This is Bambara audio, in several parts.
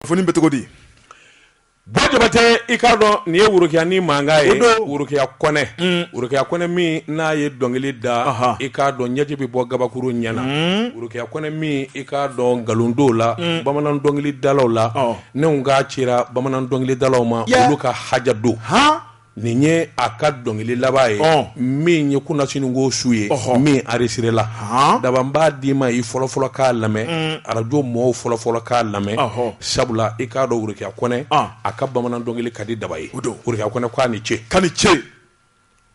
kunnafoni bɛ cogo di Bajabate i k'a dɔn nin ye worokiya ni mankan ye worokiya kɔnɛ worokiya kɔnɛ min n'a ye dɔnkili da i k'a dɔn ɲɛji bɛ bɔ kabakuru ɲɛ na worokiya kɔnɛ min i k'a dɔn nkalondo la bamanan dɔnkili dalaw la ne k'a cira bamanan dɔnkili dalaw ma olu ka haja don h nin ye a ka dɔnkili laban ye Ɔn. min ye kunasinikɔ su ye Ɔhɔ. min aresirela Han. daba n b'a d'i ma i fɔlɔfɔlɔ k'a lamɛn arajo mɔɔw fɔlɔfɔlɔ k'a lamɛn Ɔhɔ. sabula i k'a dɔn worokiya kɔnɛ Ɔn. a ka bamanan dɔnkili ka di daba ye O don. worokiya kɔnɛ ko a ni ce k'a ni ce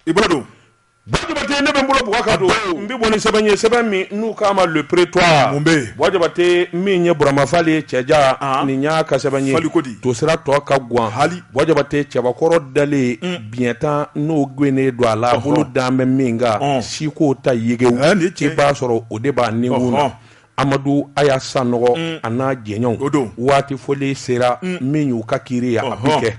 i bolo don Bajabate ne bɛ n bolo bugɔ ka don n bɛ bɔ ni sɛbɛn ye sɛbɛn min n'u k'a ma le prétoire mun bɛ yen Bajabate min ye Burama Fali ye cɛja nin y'a ka sɛbɛn ye Fali ko di tosira tɔ ka gan hali Bajabate cɛbakɔrɔ dalen biɲɛ tan n'o gwɛnnen don a la bolo dan bɛ min kan siko ta yegew i b'a sɔrɔ o de b'a nikun na Amadu Aya Sanɔgɔ a n'a jɛɲɔgɔnw o don waati fɔlen sera min y'u ka kiri ye a bɛ kɛ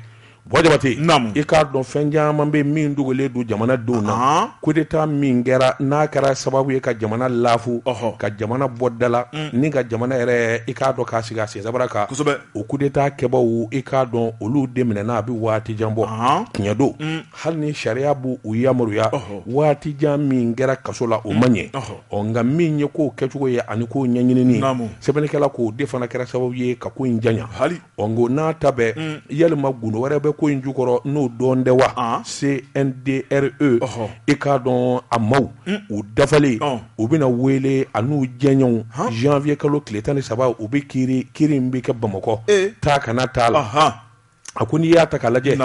Bajabate i k'a dɔn fɛn caman bɛ min dogolen don jamanadenw na kudeta min kɛra n'a kɛra sababu ye ka jamana lafu ka jamana bɔ dala ni ka jamana yɛrɛ i k'a dɔn k'a sigi a sensabara kan kosɛbɛ o kudeta kɛbaaw i k'a dɔn olu de minɛna a bɛ waati jan bɔ tiɲɛ don hali ni sariya b' u yamaruya waati jan min kɛra kaso la o man ɲɛ ɔ nka min ye k'o kɛcogo ye ani k'o ɲɛɲinini sɛbɛnnikɛla k'o de fana kɛra sababu ye ka ko in janya hali ɔ k'o n'a ta bɛɛ yalama gundo wɛrɛ bɛ ko in jukɔrɔ n'o dɔn tɛ wa CNDRE i k'a dɔn a maaw u dafalen u bɛna wele a n'u jɛɲɔgɔnw zanwiye kalo tile tan ni saba u bɛ kiri kiri in bɛ kɛ bamakɔ taa ka na t'a la a ko n'i y'a ta k'a lajɛ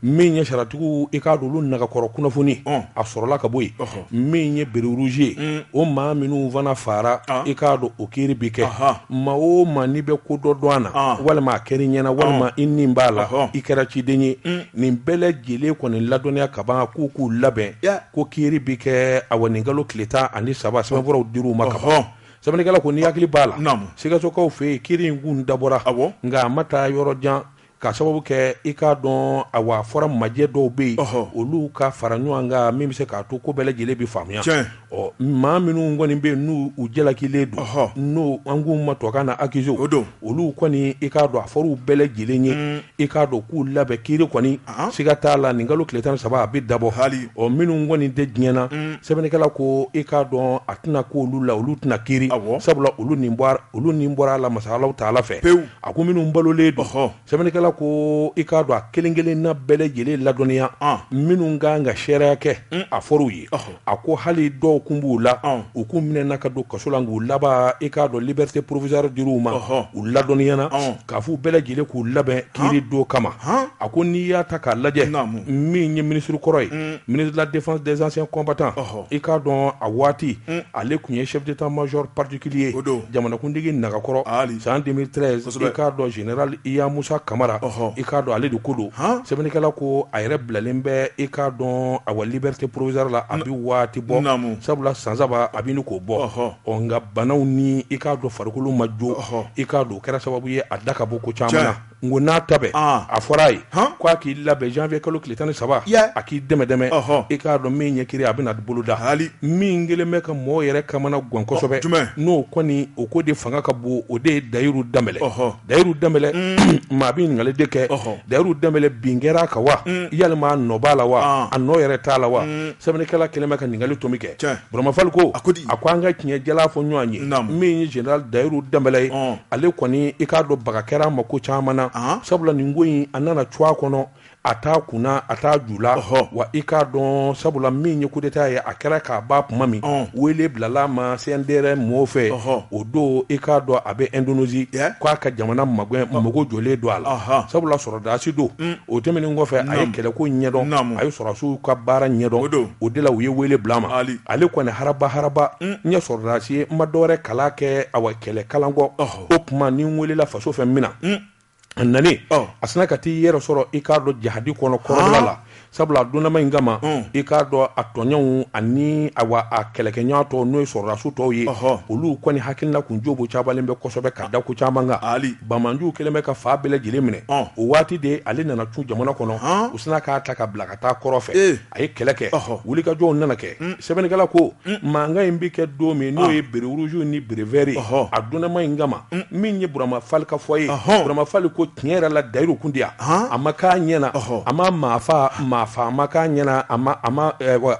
min ye sariyatigiw i k'a dɔn olu nagakɔrɔ kunnafoni a sɔrɔla ka bɔ yen min ye béret rouge ye o maa minnu fana fara i k'a dɔn o kiri bɛ kɛ maa o maa n'i bɛ ko dɔ dɔn a na walima a kɛra i ɲɛna walima i ni b'a la i kɛra ciden ye nin bɛɛ lajɛlen kɔni ladɔnniya ka ban k'u k'u labɛn ko kiri bɛ kɛ a wa nin kalo tile tan ani saba sɛbɛnfuraw dir'u ma ka ban sɛbɛnnikɛla ko n'i hakili b'a la Naamu. sikasokaw fɛ yen kiri in kun dabɔra Awɔ. nka a ma taa yɔrɔ jan k'a sababu kɛ i k'a dɔn a wa fɔra majɛ dɔw bɛ yen Ɔhɔ. olu ka fara ɲɔgɔn kan min bɛ se k'a to ko bɛɛ lajɛlen bɛ faamuya Tiɲɛ. ɔ maa minnu kɔni bɛ yen n'u u jalakilen don Ɔhɔ. n'o an k'u ma tubabukan na accusés O don. olu kɔni i k'a dɔn a fɔra u bɛɛ lajɛlen ye i k'a dɔn k'u labɛn kiri kɔni siga t'a la nin kalo tile tan ni saba a bɛ dabɔ hali ɔ minnu kɔni tɛ diɲɛ na sɛbɛnnikɛla ko i k'a dɔn a tɛna ko olu la olu tɛna kiri sabula olu olu ni bɔra a la masalaw ta ala fɛ pewu a ko minnu balolen don sɛbɛnnikɛla ko i k'a dɔn a kelen-kelen na bɛɛ lajɛlen ladɔnniya minnu ka kan ka seereya kɛ a fɔra u ye a ko hali dɔw kun b'u la u kun minɛna ka don kaso la nk'u laban i k'a dɔn liberté provisoire dir'u ma u ladɔnniyana k'a fɔ u bɛɛ lajɛlen k'u labɛn kiri don kama a ko n'i y'a ta k'a lajɛ min ye ministre kɔrɔ ye ministre de la défense des anciens combattants i k'a dɔn a waati ale tun ye chef d'état-major particulier ye o don jamanakuntigi nagakɔrɔ san 2013 i k'a dɔn général Yamusa Kamara hɔn i k'a dɔn ale de ko don sɛbɛnnikɛla ko a yɛrɛ bilalen bɛ i k'a dɔn awa liberté provisoire la a bɛ waati bɔ sabula san saba a bɛ ɲini k'o bɔ hɔn ɔ nka banaw ni i k'a dɔn farikolo ma jɔ hɔn i k'a dɔn o kɛra sababu ye a da ka bɔ ko caman na nk'o n'a ta bɛɛ a fɔra a ye k' a k'i labɛn janvier kalo tile tan ni saba a k'i dɛmɛ dɛmɛ i k'a dɔn min ɲɛ kiri a bɛna na boloda ha min kɛlen bɛ ka mɔgɔw yɛrɛ kamana gan kosɛbɛ n'o kɔni o ko de fanga ka bon o de ye Dayiru Danbɛlɛ Dayiru Danbɛlɛ maa bɛ ɲininkali de kɛ Dayiru Danbɛlɛ bin kɛra a kan wa yalima a nɔ b'a la wa a nɔ yɛrɛ t'a la wa sɛbɛnnikɛla kɛlen bɛ ka ɲininkali to min kɛ Burama Fali ko a ko an ka tiɲɛ jalan fɔ ɲɔgɔn ye min ye général Dayiru Danbɛlɛ ye ale kɔni i k'a dɔn baga kɛra a ma ko caman na sabula nin ko in a nana cun a kɔnɔ a t'a kunna a t'a ju la hɔ wa i k'a dɔn sabula min ye coup d'état ye a kɛra ka ban tuma min wele bilala a ma CNDR mɔgɔw fɛ hɔ o don i k'a dɔn a bɛ Indonésie k'a ka jamana ma mago jɔlen don a la sabula sɔrɔdasi don o tɛmɛnen kɔfɛ a ye kɛlɛ ko ɲɛdɔn a ye sɔrɔdasiw ka baara ɲɛdɔn o de la u ye wele bila a ma ale kɔni haraba haraba n ye sɔrɔdasi ye n ma dɔwɛrɛ kalan kɛ awa kɛlɛ kalan kɔ o tuma ni n welela faso fɛ min na a nana a sina ka taa i yɛrɛ sɔrɔ i k'a dɔn jahadi kɔnɔ kɔrɔ la sabula a donnama in kama i k'a dɔn a tɔɲɔgɔnw ani a kɛlɛkɛɲɔgɔn tɔw n'o ye sɔrɔdasiw tɔw ye olu kɔni hakilina tun jobocabalen bɛ kosɛbɛ ka da ko caman kan banbaanciw kɛlen bɛ ka fan bɛɛ lajɛlen minɛ o waati de ale nana cun jamana kɔnɔ u sina k'a ta ka bila ka taa kɔrɔn fɛ a ye kɛlɛ kɛ wulikajɔw nana kɛ sɛbɛnnikɛla ko mankan in bɛ kɛ don min n'o ye béret rouge ni béret vert a donama in kama min ye burama fali ka fɔ ye burama fali ko tiɲɛ yɛrɛ la dayiru kun tɛ yan a ma k'a ɲɛna a ma maa faa a ma k'a ɲɛna a ma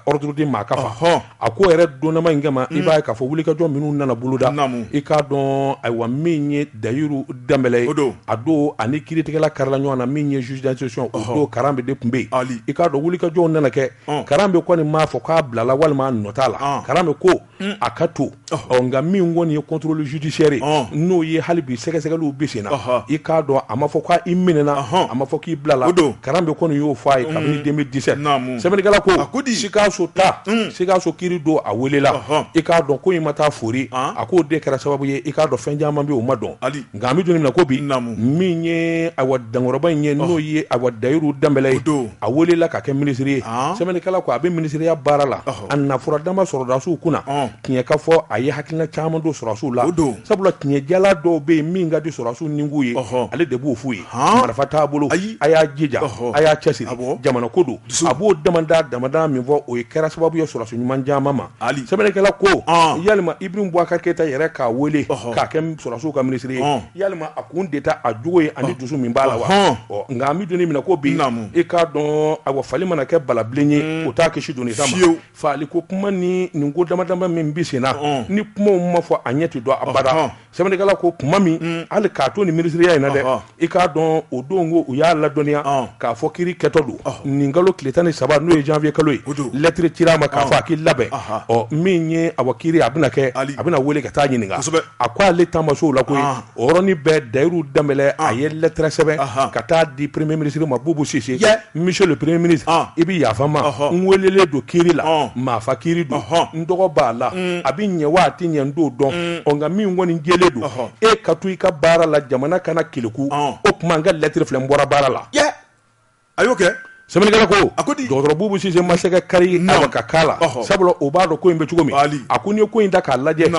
ordre di maa ka faa A ko yɛrɛ donama in kama i b'a ye k'a fɔ wulikajɔ minnu nana boloda i k'a dɔn ayiwa min ye Dayiru Danbɛlɛ ye a don ani kiiritigɛla karala ɲɔgɔn na min ye juge d'instruction o don Karanbe de tun bɛ yen i k'a dɔn wulikajɔw nana kɛ Karanbe kɔni m'a fɔ k'a bilala walima a nɔ t'a la Karanbe ko a ka to ɔ nka min kɔni ye contrôle judiciaire ye n'o ye hali bi sɛgɛsɛgɛliw bɛ sen na i k'a dɔn a ma fɔ k'a i minɛna a ma fɔ k'i bilala Karanbe kɔni y'o fɔ a ye kabini 2017 mm. sɛbɛnnikɛla ko Sikaso ta mm. Sikaso kiri don a welela i k'a dɔn ko in ma taa fori a k'o de kɛra sababu ye i k'a dɔn fɛn caman bɛ o ma dɔn Nka an bɛ don min na ko bi naamu min ye awa dankɔrɔba in ye n'o ye awa Dayiru Danbɛlɛ ye ɔn a welela ka kɛ minisiri ye sɛbɛnnikɛla ko a bɛ minisiriya baara la a na fɔra dama sɔrɔdasiw kunna tiɲɛ ka fɔ a ye hakilina caman don sɔrɔdasiw la ɔn sabula tiɲɛjala dɔw bɛ yen min ka di sɔrɔdasiw nikun ye ale de b'o f'u ye marifa t'a bolo ayi a y'a jija a y'a cɛ siri jamana ko don a b'o damadama min fɔ o ye kɛra sababu ye sɔrɔdasi ɲuman caman ma Ali sɛbɛnnikɛla ko ɔn yalima Ibrahim Boubacar Keita yɛrɛ k'a wele ɔhɔ k'a kɛ m sɔrasiw ka ministre ye ɔn yalima a kun de tɛ a jogo ye ani dusu min b'a la wa ɔhɔɔn ɔ nka an bi don min na ko bi naamu i k'a dɔɔn awa fali mana kɛ balabilen ye uun o t'a kisi doni ta ma fiyew faliko kuma ni nin ko dama-dama min bi senna ɔn ni kumaw ma fɔ a ɲɛ ti dɔn abada ɔhɔɔn Sɛbɛnnikɛla ko kuma min mm. hali k'a to ni minisiriya in na dɛ i k'a dɔn o don ko u y'a ladɔnniya k'a fɔ kiri kɛtɔ don nin kalo tile tan ni saba n'o ye janvier kalo ye lɛtiri cira a ma k'a fɔ a k'i labɛn ɔ min ye awa kiri a bɛna kɛ a bɛna wele ka taa ɲininka a ko ale taama sow la koyi o yɔrɔnin bɛɛ Dayiru Danbɛlɛ a ye lɛtɛrɛ sɛbɛn ka taa di premier ministre ma Bubu Sise Monsieur le premier ministre ah. i bɛ yafa n ma n welelen don kiri la ah. maafa kiri don n tɔgɔ b'a la mm. a bɛ ɲɛ wa a tɛ ɲɛ n t'o dɔn mm. ɔ nka min kɔni jɛlen don e ka to i ka baara la jamana kana keleku ah. o tuma n ka lɛtiri filɛ n bɔra baara la a y'o kɛ sɛbɛnnikɛla ko a ko di dɔgɔtɔrɔ Bubu Sise ma se ka kari awa ka k'a la sabula o b'a dɔn ko in bɛ cogo min a ko n'i ye ko in ta k'a lajɛ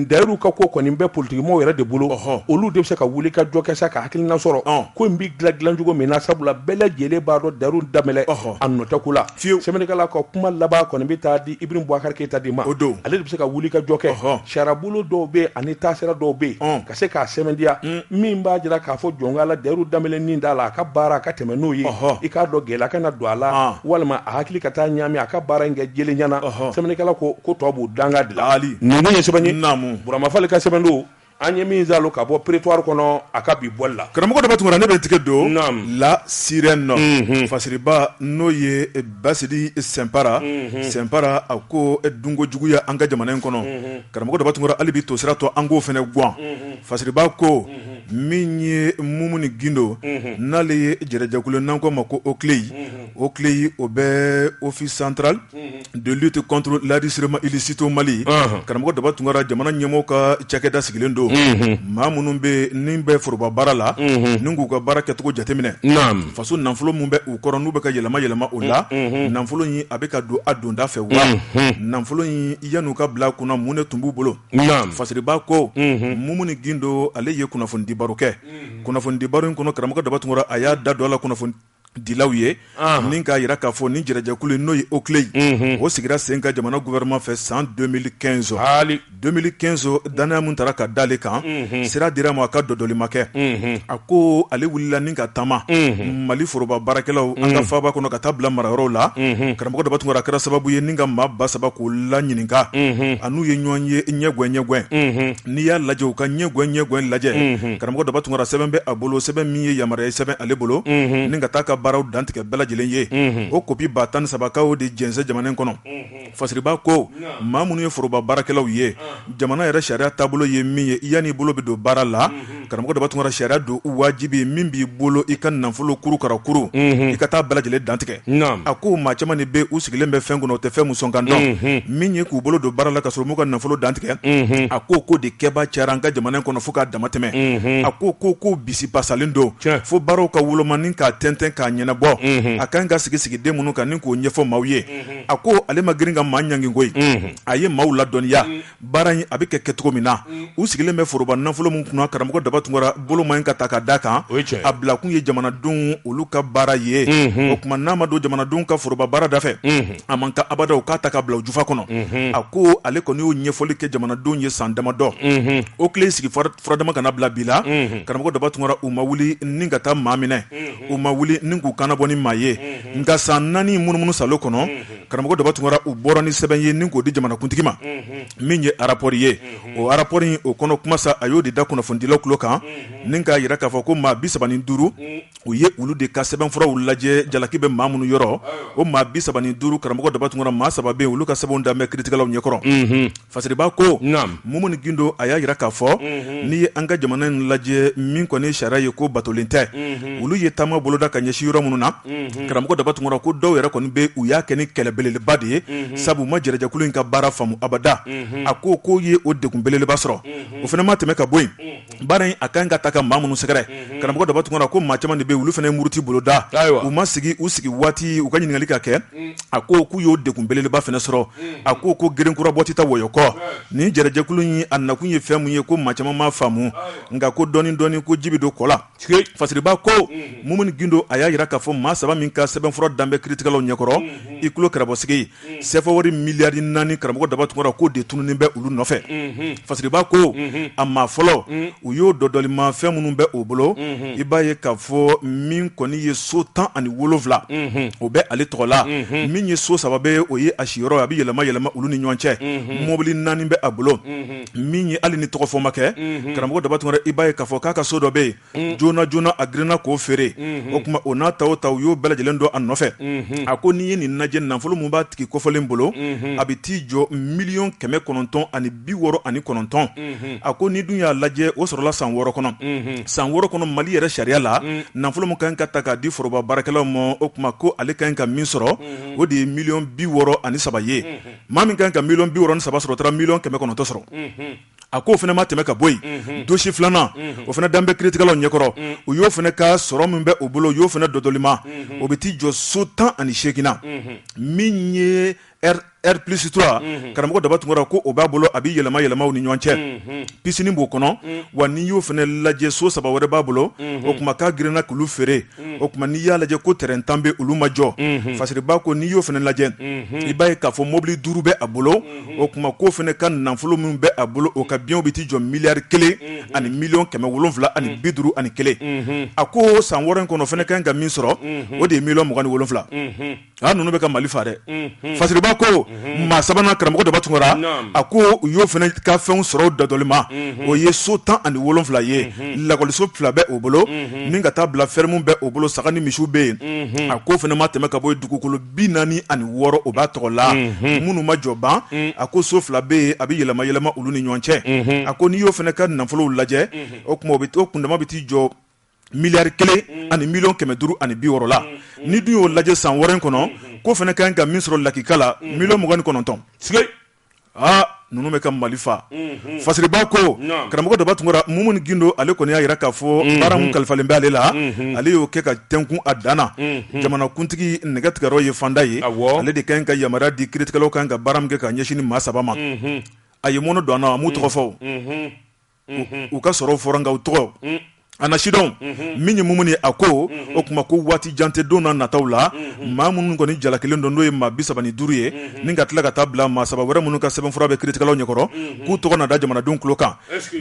Dayiru ka ko kɔni bɛ politikimɔgɔw yɛrɛ de bolo olu de bɛ se ka wuli ka jɔ kɛ sa ka hakilina sɔrɔ ko in bɛ Dila dilan cogo min na sabula bɛɛ lajɛlen b'a dɔn Dayiru Danbɛlɛ a nɔ tɛ ko la fiyewu, sɛbɛnnikɛla ka kuma laban kɔni bɛ taa di Ibrahim Boubacar Keita de ma, o don, ale de bɛ se ka wulikajɔ kɛ, ɔhɔ, sariyabolo dɔw bɛ yen ani taasira dɔw bɛ yen ka se k'a sɛmɛntiya min b'a jira k'a fɔ jɔnkala Dayiru Danbɛlɛ nin t'a la a ka baara a ka tɛmɛ n'o ye, ɔhɔ, i k'a dɔn gɛlɛya kana don a la walima a hakili ka taa ɲaami a ka baara in kɛ jɛlenya na, ɔhɔ, sɛbɛnnikɛla ko ko tɔ b'o danga de la, Ali, nin ye sɛbɛn ye, naamu, Burama Fali ka sɛbɛn don an ye min zalo ka bɔ Prétoire kɔnɔ a ka bi bɔli la karamɔgɔ Daba Tunkara ne bɛ tigɛ don La Sirène nɔ fasiriba n'o ye Basidi Sɛnpara Sɛnpara a ko dunko juguya an ka jamana in kɔnɔ karamɔgɔ Daba Tunkara hali bi tosira tɔ an k'o fɛnɛ gan fasiriba ko min ye Mumuni Gindo n'ale ye jɛrɛjɛkulu n'an k'o ma ko OCLEI OCLEI o bɛ office central de lutte contre l'enrichissement illicite Mali karamɔgɔ Daba Tunkara jamana ɲɛmɔgɔ ka cakɛda sigilen don maa minnu bɛ ni bɛ foroba baara la n k'u ka baara kɛcogo jateminɛ faso nafolo min bɛ u kɔrɔ n'u bɛ ka yɛlɛma yɛlɛma o la nafolo in a bɛ ka don a donda fɛ wa nafolo in yan'u ka bila kunna mun de tun b'u bolo fasiriba ko Mumuni Gindo ale ye kunnafonidibaro kɛ kunnafonidibaro in kɔnɔ karamɔgɔ Daba Tunkara a y'a da dɔ la kunnafoni dilaw ye ni k'a jira k'a fɔ ni jɛrɛjɛkulu in n'o ye OCLEI ye o sigira sen kan jamana gouvernement fɛ san deux mille quinze deux mille quinze danaya min taara ka da ale kan sira dira ma a ka dɔdɔlima kɛ a ko ale wulila ni ka taama mali foroba baarakɛlaw an ka faaba kɔnɔ ka taa bila marayɔrɔw la karamɔgɔ daba tunkara kɛra sababu ye ni ka maa ba saba k'o laɲininka a n'u ye ɲɔgɔn ye ɲɛgɛn ɲɛgɛn n'i y'a lajɛ u ka ɲɛgɛn ɲɛgɛn lajɛ karamɔgɔ daba tunkara sɛbɛn bɛ a bolo sɛbɛn min ye yamaruya sɛbɛn ale bolo ni ka taa ka baaraw dantigɛ bɛɛ lajɛlen ye o kopi ba tan ni saba k'o de jɛnsɛn jamana kɔnɔ fasiriba ko maa minnu ye foroba baarakɛlaw ye jamana yɛrɛ sariya taabolo ye min ye i yan'i bolo bɛ don baara la karamɔgɔ daba tunkara sariya don wajibi min b'i bolo i ka nafolo kurukarakuru i ka taa bɛɛ lajɛlen dantigɛ a ko maa caman de bɛ u sigilen bɛ fɛn kunna o tɛ fɛn muso kan dɔn min ye k'u bolo don baara la ka sɔrɔ u m'u ka nafolo dantigɛ a ko ko de kɛba cayara an ka jamana in kɔnɔ fo ka dama tɛmɛ a ko ko kow bisibasalen don fo baaraw ka wolomani k'a tɛntɛn k'a ɲɛnabɔ a ka kan ka sigi sigiden minnu kan ni k'o ɲɛfɔ maaw ye a ko ale ma girin ka maa ɲangi koyi a ye maaw ladɔnniya baara in a bɛ kɛ cogo min na u sigilen bɛ foroba nafolo min kunna karamɔgɔ daba tunkara bolo ma ɲi ka ta ka da kan a bila kun ye jamanadenw olu ka baara ye o tuma n'a ma don jamanadenw ka foroba baara da fɛ a man kan abada u k'a ta ka bila jufa kɔnɔ a ko ale kɔni y'o ɲɛfɔli kɛ jamanadenw ye san damadɔ OCLEI sigi furadama ka na bila bi la karamɔgɔ daba tunkara u ma wuli ni ka taa maa minɛ u ma wuli ni k'u kana bɔ ni maa ye nka san naani munumunu sa kɔnɔ karamɔgɔ daba tunkara u bɔra ni sɛbɛn ye ni k'o di jamanakuntigi ma min ye arapɔri ye o arapɔri in o kɔnɔ kuma sa a y'o de da kunnafonidilaw tulo kan ni k'a jira k'a fɔ ko maa bi saba ni duuru u ye olu de ka sɛbɛnfuraw lajɛ jalaki bɛ maa minnu yɔrɔ o maa bi saba ni duuru karamɔgɔ daba tunkara maa saba bɛ olu ka sɛbɛnw dan bɛ kiritigɛlaw ɲɛkɔrɔ Fasiriba ko Mumuni Gindo a y'a jira k'a fɔ n'i ye an ka jamana in lajɛ min kɔni ye sariya ye k'o batolen tɛ olu ye taama boloda ka ɲɛsin yɔrɔ minnu na karamɔgɔ Daba Tunkara ko dɔw yɛrɛ kɔni bɛ u y'a kɛ ni kɛlɛ belebeleba de ye sabu u ma jɛrɛjɛkulu in ka baara faamu abada a ko k'o ye o degun belebeleba sɔrɔ o fana ma tɛmɛ ka bɔ yen baara in a ka kan ka taa ka maa minnu sɛgɛrɛ mhm. karamɔgɔ daba tunkara ko maa caman de bɛ olu fana ye muruti boloda u ma sigi u sigi waati u ka ɲininkali ka kɛ mm. a ko k'u y'o degun belebeleba fana sɔrɔ mm. a ko ko gerenkura bɔ tɛ taa wɔyɔ kɔ nin jɛrɛjɛkulu in a nakun ye fɛn min ye ko maa caman m'a faamu nka ko dɔɔni dɔɔni ko ji bɛ don kɔ la fasiriba ko mm-hmm. mumuni gindo a y'a jira k'a fɔ maa saba min ka sɛbɛnfura dan bɛ kiritigɛlaw ɲɛkɔrɔ mm-hmm. i tulo kɛrɛbɔsigi sɛfa wari miliyari naani karamɔgɔ daba tunkara k'o de tununnen bɛ olu nɔfɛ fasiriba ko a maa fɔlɔ u y'o dɔdɔlima fɛn minnu bɛ o bolo i b'a ye k'a fɔ min kɔni ye so tan ani wolonwula o bɛ ale tɔgɔ la min ye so saba bɛ o ye a siyɔrɔ a bɛ yɛlɛma yɛlɛma olu ni ɲɔgɔn cɛ mɔbili naani bɛ a bolo min ye hali ni tɔgɔ fɔ ma kɛ karamɔgɔ daba tunkara i b'a ye k'a fɔ k'a ka so dɔ bɛ yen mm. joona joona a girinna k'o feere mm-hmm. o tuma o n'a ta o ta u y'o bɛɛ lajɛlen dɔ a nɔfɛ mm-hmm. a ko n'i ye nin lajɛ nafolo min b'a tigi kɔfɔlen bolo mm-hmm. a bɛ t'i jɔ miliyɔn kɛmɛ kɔnɔntɔn ani bi wɔɔrɔ ani kɔnɔntɔn a ko n'i dun y'a lajɛ o sɔrɔla san wɔɔrɔ kɔnɔ san wɔɔrɔ kɔnɔ mali yɛrɛ sariya la mm. nafolo min ka ɲi ka ta k'a di foroba baarakɛlaw ma o tuma ko ale ka ɲi ka min sɔrɔ o de ye miliyɔn bi wɔɔrɔ ani saba ye maa min ka ɲi ka miliyɔn bi wɔɔrɔ ni saba sɔrɔ o taara miliyɔn kɛmɛ kɔnɔntɔn sɔrɔ a ko o fana ma tɛmɛ ka bɔ yen dosi filanan o fana dan bɛ kiiritigɛlaw ɲɛkɔrɔ u y'o fana ka sɔrɔ min bɛ o bolo u y'o fana dɔdɔlima o bɛ t'i jɔ so tan ani seegin na min ye R plus trois karamɔgɔ daba tunkara ko o b'a bolo a bɛ yɛlɛma yɛlɛma u ni ɲɔgɔn cɛ pisini b'o kɔnɔ wa n'i y'o fana lajɛ so saba wɛrɛ b'a bolo o tuma k'a girinna k'olu feere o tuma n'i y'a lajɛ ko tɛrɛn tan bɛ olu ma jɔ fasiriba ko n'i y'o fana lajɛ i b'a ye k'a fɔ mobili duuru bɛ a bolo o tuma k'o fana ka nafolo min bɛ a bolo o ka biyɛnw bɛ t'i jɔ miliyari kelen ani miliyɔn kɛmɛ wolonwula ani bi duuru ani kelen a ko san wɔɔrɔ in kɔnɔ fana ka kan ka min sɔrɔ o de ye miliyɔn mugan ni wolonwula A ninnu bɛ ka mali fa dɛ fasiriba ko maa sabanan karamɔgɔ daba tunkara a ko u y'o fana ka fɛn sɔrɔ dɔdɔlima o ye so tan ani wolonwula ye lakɔliso fila bɛ o bolo min ka taa bila fɛrimu bɛ o bolo saga ni misi bɛ yen a k'o fana ma tɛmɛ ka bɔ dugukolo bi naani ani wɔɔrɔ o b'a tɔgɔ la minnu ma jɔ ban a ko so fila bɛ yen a bɛ yɛlɛma yɛlɛma olu ni ɲɔgɔn cɛ a ko n'i y'o fana ka nafolow lajɛ o tuma o kundama bɛ t'i jɔ miliyari kelen mm. ani miliyɔn kɛmɛ duuru ani bi wɔɔrɔ la mm, mm. n'i dun y'o lajɛ san wɔɔrɔ kɔnɔ k'o fana ka kan ka min sɔrɔ lakika la miliyɔn mugan ni kɔnɔntɔn sige aa ninnu bɛ ka mali fa mm-hmm. fasiriba ko karamɔgɔ daba tunkara mumuni gindo ale kɔni y'a jira k'a fɔ mm-hmm. baara min kalifalen bɛ ale la mm-hmm. ale y'o kɛ ka tɛnkun a dan na jamanakuntigi nɛgɛtigɛyɔrɔ ye fanda ye ale de ka ɲi ka yamaruya di kiiritigɛlaw kan ka baara min kɛ ka ɲɛsin nin maa saba ma a ye mɔnɔ don an na a m'u tɔgɔ fɔ u ka sɔrɔ fɔra nka u tɔgɔ a na sidɔn min ye mumuni ye a ko o tuma ko waati jan tɛ don na nataw la maa minnu kɔni jalakilen don n'o ye maa bi saba ni duuru ye ni ka tila ka taa bila maa saba wɛrɛ minnu ka sɛbɛnfura bɛ kiiritigɛlaw ɲɛkɔrɔ k'u tɔgɔ na da jamanadenw tulo kan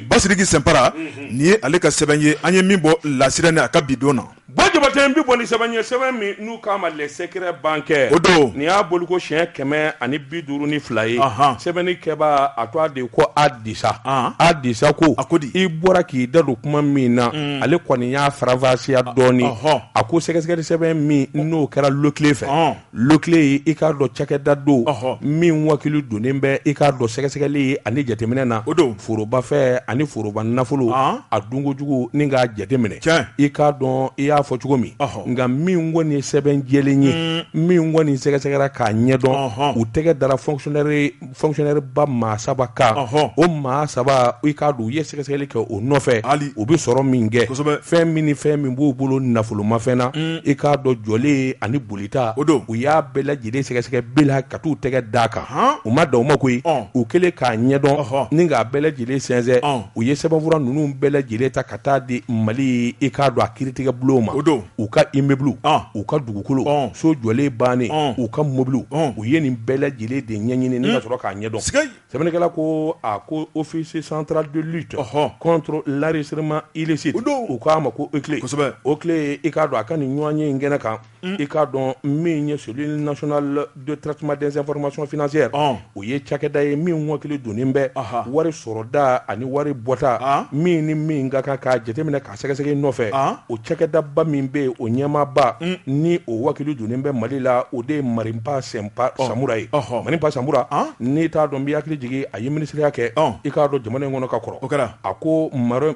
basiriki sɛnpara nin ye ale ka sɛbɛn ye an ye min bɔ lasirɛni a ka bi don na Bon jabatɛ bɛ bɔ ni sɛbɛn ye sɛbɛn min n'u k'a ma les secrets bancaires o don nin y'a bɔli ko siyɛn kɛmɛ ani bi duuru ni fila ye sɛbɛnnikɛbaa tɔgɔ de ko adisa adisa ko a ko di i bɔra k'i da don kuma min na ale kɔni y'a faranfasiya dɔɔnin a ko sɛgɛsɛgɛli sɛbɛn min n'o kɛra l'OCLEI fɛ l'OCLEI ye i k'a dɔn cakɛda don min wakili donnen bɛ i k'a dɔn sɛgɛsɛgɛli ye ani jateminɛ na o don forobafɛn ani foroba nafolo a dunkojugu ni k'a jateminɛ i k'a dɔn i y'a fɔ cogo min nka min kɔni sɛbɛn jɛlen ye min kɔni sɛgɛsɛgɛra k'a ɲɛdɔn u tɛgɛ dara fonctionnaire fonctionnaire ba maa saba kan, ɔhɔ, o maa saba i k'a dɔn u ye sɛgɛsɛgɛli kɛ o nɔfɛ, hali, u bɛ sɔrɔ min kɛ, kosɛbɛ, fɛn min ni fɛn min b'u bolo nafolomafɛn na, un, i k'a dɔn jɔlen ani bolita, o don, u y'a bɛɛ lajɛlen sɛgɛsɛgɛ bi la ka t'u tɛgɛ d'a kan, han, u ma dan o ma koyi, ɔn, u kɛlen k'a ɲɛdɔn, ɔhɔ, ni k'a bɛɛ lajɛlen sɛnsɛn, ɔn, u ye sɛbɛnfura ninnu bɛɛ lajɛlen ta ka taa di Mali i k'a dɔn a kiiritigɛbulon ma, o don u ka immeuble u ka dugukolo so jɔlen bannen u ka mɔbili u ye nin bɛɛ lajɛlen de ɲɛɲini ni ka sɔrɔ k'a ɲɛdɔn sɛbɛnnikɛla ko a ko office central de lutte contre l'enrichissement illicite o don u k'a ma ko OCLEI kosɛbɛ OCLEI i k'a dɔn a ka nin ɲɔgɔn ye in kɛnɛ kan i k'a dɔn min ye cellule nationale de traitement des informations financières o ye cakɛda ye min wakili donnen bɛ wari sɔrɔ da ani wari bɔta min ni min ka kan k'a jateminɛ k'a sɛgɛsɛgɛ nɔfɛ o cakɛdaba min bɛ yen o ɲɛmaaba ni o wakili donnen bɛ mali la o de ye Marimpa Senpa Samura ye Marimpa Samura n'i t'a dɔn n b'i hakili jigin a ye minisiriya kɛ i k'a dɔn jamana in kɔnɔ ka kɔrɔ o kɛra A ko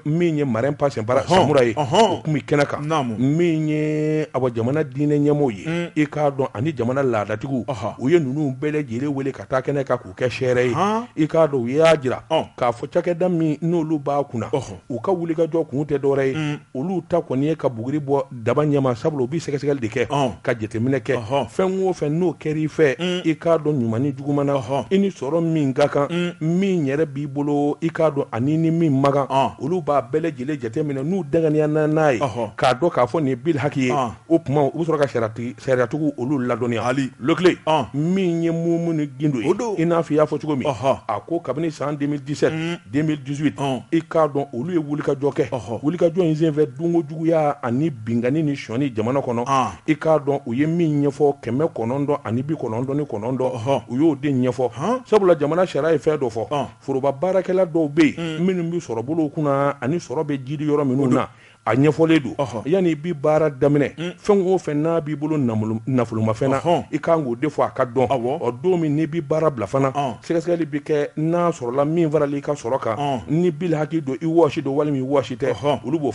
min ye Marimpa Samura ye o tun bɛ kɛnɛ kan min ye a jamana diinɛ ɲɛmɔgɔ ye i k'a dɔn ani jamana laadatigiw u ye ninnu bɛɛ lajɛlen wele ka taa kɛnɛ kan k'u kɛ sɛɛrɛ ye i k'a dɔn u y'a jira k'a fɔ cakɛda min n'olu b'a kunna u ka wulikajɔ kun tɛ dɔwɛrɛ ye olu ta kɔni ye ka buguri bɔ daba ɲɛma sabula u bɛ sɛgɛsɛgɛli de kɛ ka jateminɛ kɛ fɛn o fɛn n'o kɛra i fɛ mm. i k'a dɔn ɲuman ni juguman na i ni sɔrɔ min ka kan mm. min yɛrɛ b'i bolo i k'a dɔn ani ni min man kan olu b'a bɛɛ lajɛlen jateminɛ n'u danganiya na n'a ye k'a dɔn k'a fɔ nin ye bil haki ye o tuma u bɛ sɔrɔ ka sariyatigiw olu ladɔnniya hali l'OCLEI min ye Mumuni Gindo ye i n'a fɔ i y'a fɔ cogo min a ko kabini san 2017 mm. 2018 i k'a dɔn olu ye wulikajɔ kɛ wulikajɔ in senfɛ dunko juguya ani binkanni ni sɔni jamana kɔnɔ i k'a dɔn u ye min ɲɛfɔ kɛmɛ kɔnɔntɔn ani bi kɔnɔntɔn ni kɔnɔntɔn u y'o de ɲɛfɔ sabula jamana sariya ye fɛn dɔ fɔ foroba baarakɛla dɔw bɛ yen minnu bɛ sɔrɔbolo kunna ani sɔrɔ bɛ jiidi yɔrɔ minnu na A ɲɛfɔlen don yanni i bɛ baara daminɛ fɛn o fɛ n'a b'i bolo nafolomafɛn na i kan k'o de fɔ a ka dɔn don min n'i bɛ baara bila fana sɛgɛsɛgɛli bɛ kɛ n'a sɔrɔla min farala i ka sɔrɔ kan ni bil haki don i wɔsi don walima i wɔsi tɛ olu b'o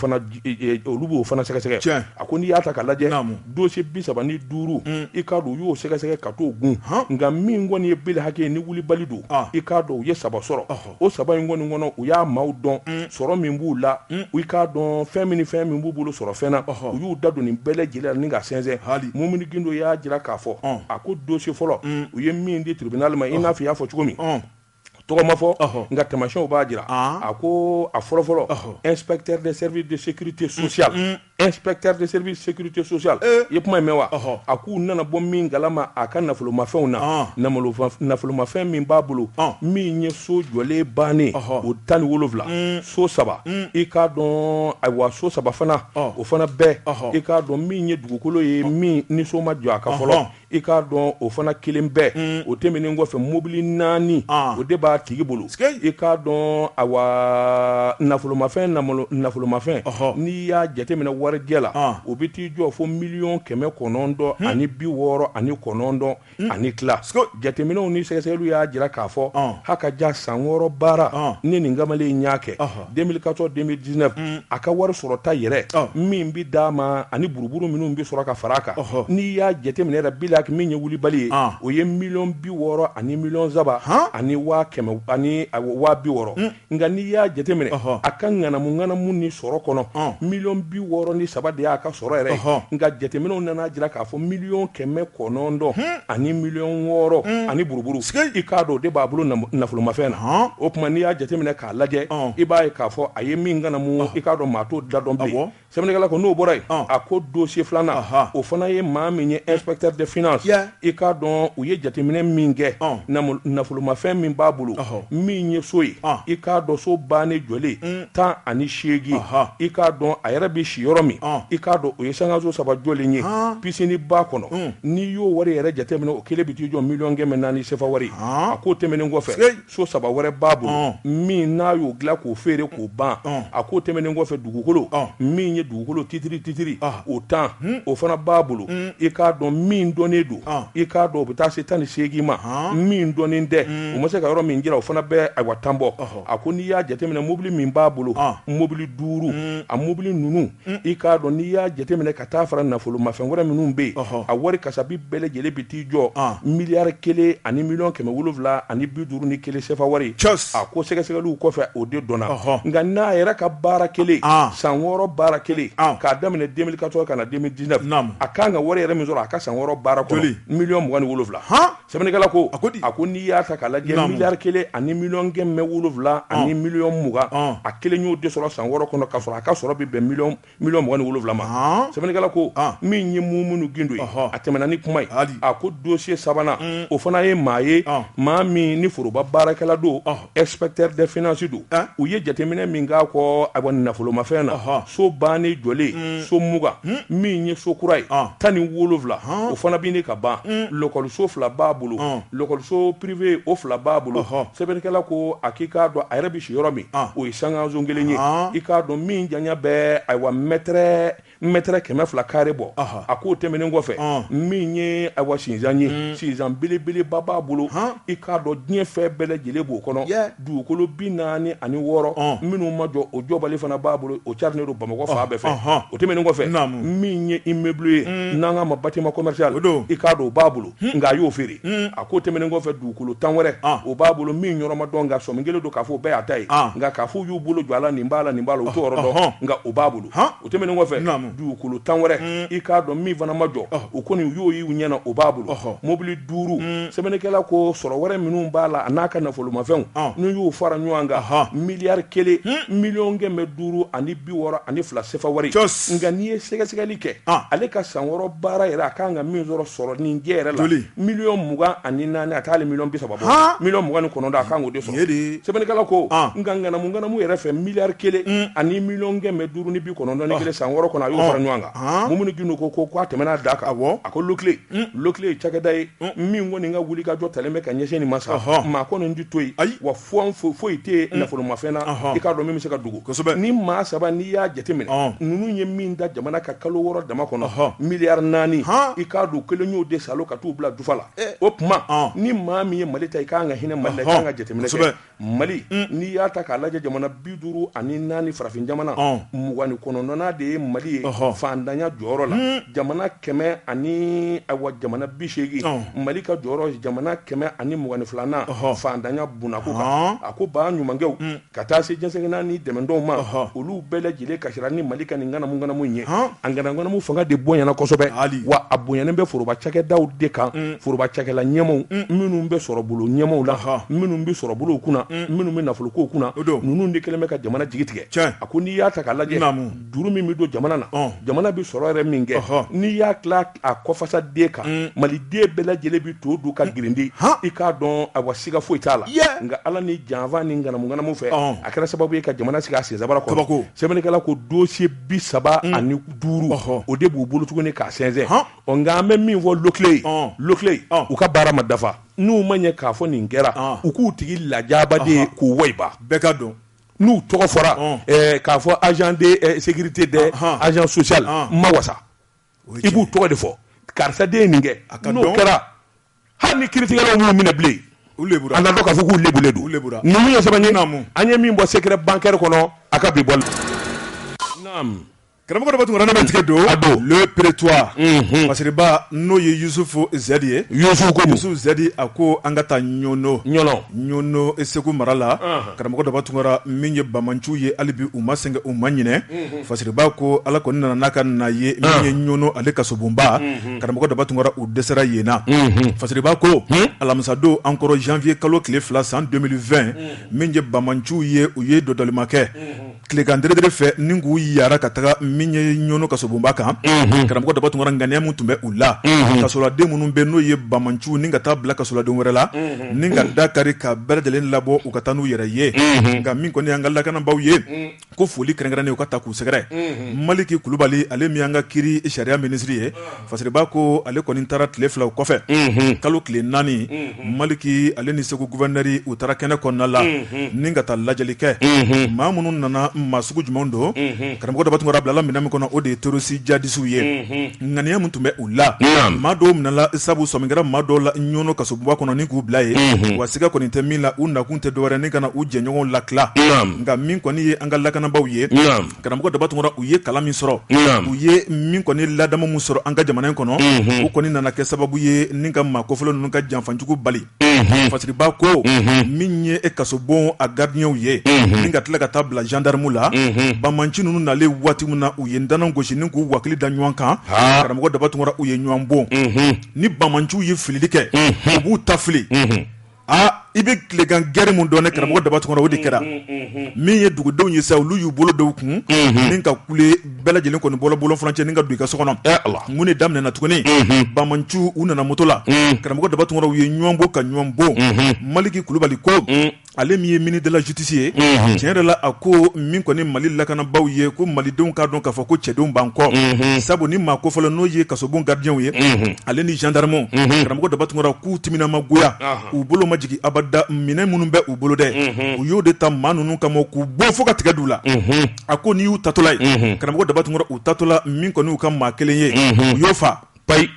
olu b'o fana sɛgɛsɛgɛ a ko n'i y'a ta ka lajɛ dossier bi saba ni duuru i k'a dɔn u y'o sɛgɛsɛgɛ ka t'o kun nka min kɔni ye bil haki ni wulibali don i k'a dɔn u ye saba sɔrɔ o saba in kɔni kɔnɔ u y'a maaw dɔn sɔrɔ min b'u la i k'a dɔn fɛn min ni fɛn min b'u bolo sɔrɔ fɛn na u y'u da don nin bɛɛ lajɛlen ni ka sɛnsɛn hali Mumuni Gindo y'a jira k'a fɔ a ko dossier fɔlɔ u ye min di tribunal ma i n'a fɔ i y'a fɔ cogo min tɔgɔ ma fɔ nka taamasiyɛnw b'a jira a ko a fɔlɔfɔlɔ inspecteur des services de sécurité sociale Inspecteur de service sécurité sociale ee, i ye kuma in mɛn wa Ɔhɔ. a k'u nana bɔ min galama a ka nafolomafɛnw na Ɔn. namolofa- nafolomafɛn min b'a bolo Ɔn. min ye so jɔlen bannen Ɔhɔ. o tan ni wolonwula so saba i k'a dɔn ayiwa so saba fana Ɔn. o fana bɛɛ Ɔhɔ. i k'a dɔn min ye dugukolo ye min ni so ma jɔ a kan fɔlɔ Ɔhɔn. i k'a dɔn o fana kelen bɛɛ mm. o tɛmɛnen kɔfɛ mobili naani ah. o de b'a tigi bolo i k'a dɔn awa nafolomafɛn nafolomafɛn n'i y'a jateminɛ warijɛ la ah. o bɛ t'i jɔ fo miliyɔn kɛmɛ kɔnɔntɔn hmm. ani bi wɔɔrɔ ani kɔnɔntɔn hmm. ani tila jateminɛw ni sɛgɛsɛgɛliw y'a jira k'a fɔ ah. haka ja san wɔɔrɔ baara ni nin kamalen in y'a kɛ 2014 2019 mm. a ka wari sɔrɔta yɛrɛ oh. min bi d'a ma ani buruburu minnu bi sɔrɔ ka fara a kan oh, oh. n'i y'a jateminɛ yɛrɛ bilak min ye wulibali ye ah. o ye miliyɔn bi wɔɔrɔ ani miliyɔn saba ani waa kɛmɛ ani waa bi wɔɔrɔ mm. nka n'i y'a jateminɛ a ka ŋanamu ŋanamu ni sɔrɔ kɔnɔ ah. miliyɔn bi wɔɔrɔ ni saba de y'a ka sɔrɔ yɛrɛ nka jateminɛw nana jira k'a fɔ miliyɔn kɛmɛ kɔnɔntɔn hmm. ani miliyɔn wɔɔrɔ hmm. ani buruburu i k'a dɔn o de b'a bolo nafolomafɛn na o tuma n'i y'a jateminɛ a lajɛ i b'a ye k'a fɔ a ye min ŋanamu i k'a dɔn maa t'o da dɔn bi sɛbɛnnikɛla ko n'o bɔra yen a ko dosiye filanan o fana ye maa min ye inspecteur de finance i k'a dɔn u ye jateminɛ min kɛ nafolomafɛn min b'a bolo min ye so ye i k'a dɔn so bannen jɔlen tan ani seegin i k'a dɔn a yɛrɛ bɛ si yɔrɔ min i k'a dɔn o ye sankaso saba jɔlen ye piscine b'a kɔnɔ n'i y'o wari yɛrɛ jateminɛ o kelen bɛ t'i jɔ miliyɔn kɛmɛ naani sefa wari a k'o tɛmɛnen kɔfɛ so saba wɛrɛ b'a bolo min n'a y'o dilan k'o feere k'o ban a k'o tɛmɛnen kɔfɛ dugukolo min ye dugukolo titiri titiri o tan o fana b'a bolo i k'a dɔn min dɔnnen don i k'a dɔn o bɛ taa se tan ni seegin ma min dɔnnen tɛ o ma se ka yɔrɔ min jira o fana bɛ ayiwa tan bɔ a ko n'i y'a jateminɛ mobili min b'a bolo mobili duuru a mobili ninnu mm. i k'a dɔn n'i y'a jateminɛ ka taa fara nafolomafɛn wɛrɛ minnu bɛ yen a wari kasabi bɛɛ lajɛlen bɛ t'i jɔ ah. miliyari kelen ani miliyɔn kɛmɛ wolonwula ani bi duuru ni kelen sefa wari a ko sɛgɛsɛgɛliw kɔfɛ o de dɔnna nka n'a yɛrɛ ka baara kɛlen ah. san wɔɔrɔ baara kɛlen ah. k'a daminɛ 2014 ka na 2019 a kan ka wari yɛrɛ min sɔrɔ a ka san wɔɔrɔ baara kɔnɔ miliyɔn mugan ni wolonwula Sɛbɛnnikɛla ko a ko di a ko n'i y'a ta k'a lajɛ Naamu. miliyari kelen ani miliyɔn kɛmɛ wolonwula ani miliyɔn mugan Ɔn. a kelen y'o de sɔrɔ san wɔɔrɔ kɔnɔ k'a sɔrɔ a ka sɔrɔ bɛ bɛn miliyɔn miliyɔn mugan ni wolonwula ma Ɔn. sɛbɛnnikɛla ko Ɔn. min ye Mumuni Gindo ye Ɔhɔ. a tɛmɛna ni kuma ye Hali. a ko dosiye sabanan o fana ye maa ye Ɔn. maa min ni foroba baarakɛla don Ɔhɔ. Inspecteur des finances don, an, u ye jateminɛ min k'a kɔ ayiwa nafolomafɛn na, ɔhɔ, so bannen jɔlen, un, so mugan, un, min ye so kura ye, ɔn, tan ni wolonwula, ɔn, o fana bɛ ɲini ka ban, un, lɔkɔliso fila b'a bolo, ɔn, lɔkɔliso privé o fila b'a bolo, ɔhɔ, sɛbɛnnikɛla ko a k'i k'a dɔn a yɛrɛ bɛ si yɔrɔ min, ɔn, o ye sankanso kelen ye, ɔn, i k'a dɔn min janya bɛ ayiwa mètre mɛtɛrɛ kɛmɛ fila kare bɔ a k'o tɛmɛnen kɔfɛ min ye awa sinsan ye mm. sinsan belebeleba b'a bolo i k'a dɔn diɲɛ fɛn bɛɛ lajɛlen b'o kɔnɔ dugukolo bi naani ani wɔɔrɔ minnu ma jɔ o jɔbali fana b'a bolo o carinen don bamakɔ fan bɛɛ fɛ o tɛmɛnen kɔfɛ min ye immeuble ye mm. n'an k'a ma bâtiment commercial i k'a dɔn o b'a bolo mm. nka a y'o feere a k'o tɛmɛnen kɔfɛ dugukolo tan wɛrɛ o b'a bolo min yɔrɔ ma dɔn nka sɔmi kɛlen don k'a fɔ bɛɛ y'a ta ye nka k'a fɔ y'u bolo jɔ a la nin b'a la nin b'a la o t'o yɔrɔ dɔn nka o b'a bolo o tɛmɛnen kɔfɛ dugukolo tan wɛrɛ mm. i k'a dɔn min fana ma jɔ oh. o kɔni u y'o y'u ɲɛ na o b'a bolo oh. mobili duuru mm. sɛbɛnnikɛla ko sɔrɔ wɛrɛ minnu b'a la a n'a ka nafolomafɛnw oh. n'u y'u fara ɲɔgɔn kan miliyari kelen hmm. miliyɔn kɛmɛ duuru ani bi wɔɔrɔ ani fila sefa wari nka n'i ye sɛgɛsɛgɛli kɛ ah. ale ka san wɔɔrɔ baara yɛrɛ a kan ka min sɔrɔ sɔrɔ nin jɛ yɛrɛ la miliyɔn mugan ani naani a tɛ hali miliyɔn bi saba bɔ miliyɔn mugan ni kɔnɔntɔn a kan k'o de sɔrɔ sɛbɛnnikɛla ko ah. nka ŋanamu ŋanamu yɛrɛ fɛ miliyari kelen mm. ani miliyɔn kɛmɛ duuru ni bi kɔnɔntɔn ni ah. kelen san wɔɔrɔ kɔnɔ a y'o ah. fara ɲɔgɔn kan mumuni gindo ko ko k'a tɛmɛna da kan a ko l'OCLEI mm. l'OCLEI ye cakɛda ye mm. min kɔni ka wulikajɔ talen bɛ ka ɲɛsin nin ma sa maa kɔni ti to yen wa fɔn foyi tɛ yen nafolomafɛn na i k'a dɔn min bɛ se ka dogo ni maa saba n'i y'a jateminɛ ninnu ye min da jamana kan kalo wɔɔrɔ dama kɔnɔ miliyari naani i k'a dɔn kelen y'o de salo ka t'u bila dufa la Eh. o tuma ah. ni maa min ye mali ta i ka kan ka hinɛ mali la i ka kan ka jateminɛ kɛ mali mm. n'i y'a ta k'a lajɛ jamana bi duuru ani naani farafin jamana ah. mugan ni kɔnɔntɔnnan de ye mali ye faantanya jɔyɔrɔ la mm. jamana kɛmɛ ani awa jamana bi seegin ah. mali ka jɔyɔrɔ jamana kɛmɛ ani mugan ni filanan faantanya bunako kan a ko baɲumankɛw mm. Ka taa se jɛnsɛgɛnna ni dɛmɛdenw ma olu bɛɛ lajɛlen ka siran ni mali ka nin ŋanamuŋanamu ɲɛ a ŋanamuŋanamu fanga de bonyana kosɛbɛ hali wa a bonyanen bɛ foroba cakɛdaw de kan foroba cakɛla ɲɛmaw minnu bɛ sɔrɔ bolo ɲɛmaw la h minnu bɛ sɔrɔ bolo kunna minnu bɛ nafolokow kunna o don ninnu de kɛlen bɛ ka jamana jigi tigɛ a ko n'i y'a ta k'a lajɛ juru min bɛ don jamana na jamana bɛ sɔrɔ yɛrɛ min kɛ n'i y'a a ko fasoden kan mm. maliden bɛɛ lajɛlen bɛ to dun ka mm. girindi i k'a dɔn a wa siga foyi t'a la nka ala ni janfa ni ŋanamuŋanamu fɛ a kɛra sababu ye ka jamana sigi a sensabara kɔrɔ sɛbɛnnikɛla ko dossier bi saba mm. ani duuru o de b'u bolo tuguni k'a sɛnsɛn ɔ nka an bɛ min fɔ l'OCLEI ye l'OCLEI ye u ka baara ma dafa n'u ma ɲɛ k'a fɔ nin kɛra u k'u tigi lajaba de k'u wayiba bɛɛ k'a dɔn n'u tɔgɔ fɔra k'a fɔ agent de sécurité dɛ agent social ma wasa i b'u tɔgɔ de fɔ karisa de nin kɛ n'o kɛra hali ni kiritigɛlaw m'u minɛ bilen an k'a dɔn k'a fɔ k'u lebulen don ninnu ye sɛbɛn ye an ye min bɔ secret bancaire kɔnɔ a ka bi bɔ karamɔgɔ daba tunkara ne bɛ tigɛ don le prétoire fasiriba n'o ye yusufu zɛdi ye yusufu zɛdi a ko an ka taa ɲɔnɔ ɲɔnɔ segu mara la karamɔgɔ daba tunkara min ye banbaanciw ye hali bi u ma sɛgɛn u ma ɲ fasiriba ko ala kɔni nana n'a ka na ye min ye ɲɔnɔ ale kasobonba karamɔgɔ daba tunkara u dɛsɛra yen na fasiriba ko alamisadon an kɔrɔ zanwiye kalo tile fila san 2020 min ye banbaanciw ye u ye dɔndɔlima kɛ tilegan dɛrɛdɛrɛ fɛ ni k'u yaara ka taga min ye ɲɔnɔ kasobonba kan karamɔgɔ daba tunkara ŋaniya min tun bɛ u la kasoladen minnu bɛ n'o ye banbaanciw ni ka taa bila kasoladen wɛrɛ la ni ka da kari ka bɛɛ lajɛlen labɔ u ka taa n'u yɛrɛ ye nka min kɔni y'an ka lakanabaw ye ko foli kɛrɛnkɛrɛnnen u ka taa k'u sɛgɛrɛ maliki kulubali ale min y'an ka kiri sariya minisiri ye fasiriba ko ale kɔni taara tile fila o kɔfɛ kalo tile naani maliki ale ni segu guvɛrinɛri u taara kɛnɛ kɔnɔna la ni ka taa lajɛli kɛ maa minnu nana maa sugu jumɛn don karamɔgɔ daba tunkara bilala minɛn min kɔnɔ o de ye terɔrisi jihadisiw ye ŋaniya min tun bɛ u la maa dɔw minɛla sabu sɔmi kɛra maa dɔw la ɲɔnɔ kasobonba kɔnɔ ni k'u bila yen wa siga kɔni tɛ min na u nakun tɛ dɔwɛrɛ ni ka na u jɛɲɔgɔnw latila nka min kɔni ye an ka lakanabaaw ye karamɔgɔ daba tunkara u ye kalan min sɔrɔ u ye min kɔni ladamu min sɔrɔ an ka jamana in kɔnɔ u kɔni nana kɛ sababu ye ni ka maa kofɔlen ninnu ka janfajugu bali fasiriba ko min ye kasobon a gardiyɛnw ye min ka tila ka taa bila zandaramu la banbaanci ninnu nalen waati min na u ye ndana gosi ni k'u wakili da ɲɔgɔn kan karamɔgɔ daba tunkara u ye ɲɔgɔn bon ni banbaanciw ye filili kɛ u b'u ta fili aa i bɛ tilegan gɛrɛ min dɔn ne karamɔgɔ daba tunkara o de kɛra min ye dugudenw ye sa olu y'u bolo da u kun ni ka kule bɛɛ lajɛlen kɔni bɔla bɔlɔn furancɛ ni ka don i ka so kɔnɔ mun de daminɛna tuguni banbaanciw u nana moto la karamɔgɔ daba tunkara u ye ɲɔgɔn bon ka ɲɔgɔn bon maliki kulubali ko ale min ye ministre de la justice ye tiɲɛ yɛrɛ la a ko min kɔni mali lakanabaw ye ko malidenw k'a dɔn k'a fɔ ko cɛdenw b'an kɔ sabu ni maa kofɔlen n'o ye kasobon gardiyɛnw ye ale ni zandaramu karamɔgɔ daba tunkara k'u timina ma goya u bolo ma jigin abada minɛn minnu bɛ u bolo dɛ u y'o de ta maa ninnu kama k'u bon fo ka tigɛ d'u la a ko n'i y'u tatɔla ye karamɔgɔ daba tunkara u tatɔla min kɔni y'u ka maa kelen ye u y'o fa payi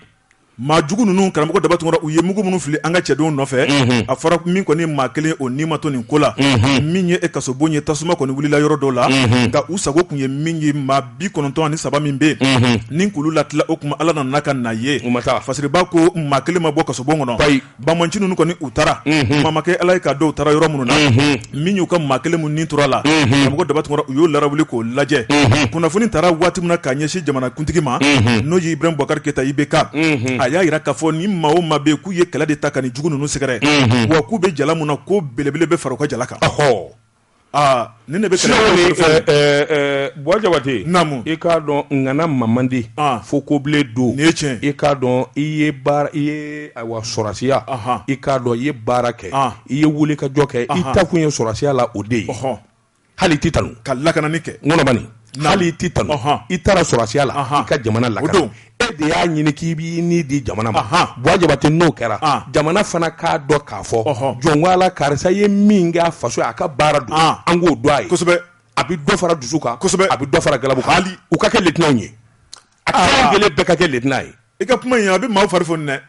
maa jugu ninnu karamɔgɔ daba tunkara u ye mugu minnu fili an ka cɛdenw nɔfɛ a fɔra min kɔni maa kelen o nii ma to nin ko la min ye kasobon ye tasuma kɔni wulila yɔrɔ dɔ la nka u sago tun ye min ye maa bi kɔnɔntɔn ni saba min bɛ yen ni k'olu latila o tuma ala nana ka na ye fasiriba ko maa kelen ma bɔ kasobon kɔnɔ banbaanci ninnu kɔni u taara maa makɛ ala ye ka dɔw taara yɔrɔ minnu na min y'u ka maa kelen min ni tora a la karamɔgɔ daba tunkara u y'o lawuli k'o lajɛ kunnafoni taara waati min na k'a ɲɛsin jamanakuntigi ma n'o ye ibrahim boubacar keita IBK a y'a jira k'a fɔ ni maa o maa bɛ k'u ye kɛlɛ de ta ka nin jugu ninnu sɛgɛrɛ wa k'u bɛ jala min na ko belebele bɛ fara u ka jala kan ni ne bɛ se buwa jabatɛ i k'a dɔn ŋana ma man di fo kobilen don ni cɛ i k'a dɔn i ye i ye wa sɔrɔsiya i k'a dɔn i ye baara kɛ i ye wulikajɔ kɛ i taa kun ye sɔrɔsiya la o de ye hɔn hali i tɛ tanu ka lakanani kɛ hali i tɛ tanu i taara sɔrɔsiya la ka jamana la e de y'a ɲini k'i b'i ni di jamana ma buwa jabatɛ n'o kɛra jamana fana k'a dɔn k'a fɔ jɔn ko ala karisa ye min kɛ faso ye a ka baara don an k'o dɔn a ye kosɛbɛ a bɛ dɔ fara dusu kan kosɛbɛ a bɛ dɔ fara galabu kan hali u ka kɛ lieutenant ye a ka gɛlɛn bɛɛ ka kɛ lieutenant ye i ka kuma in a bɛ maaw fari foni dɛ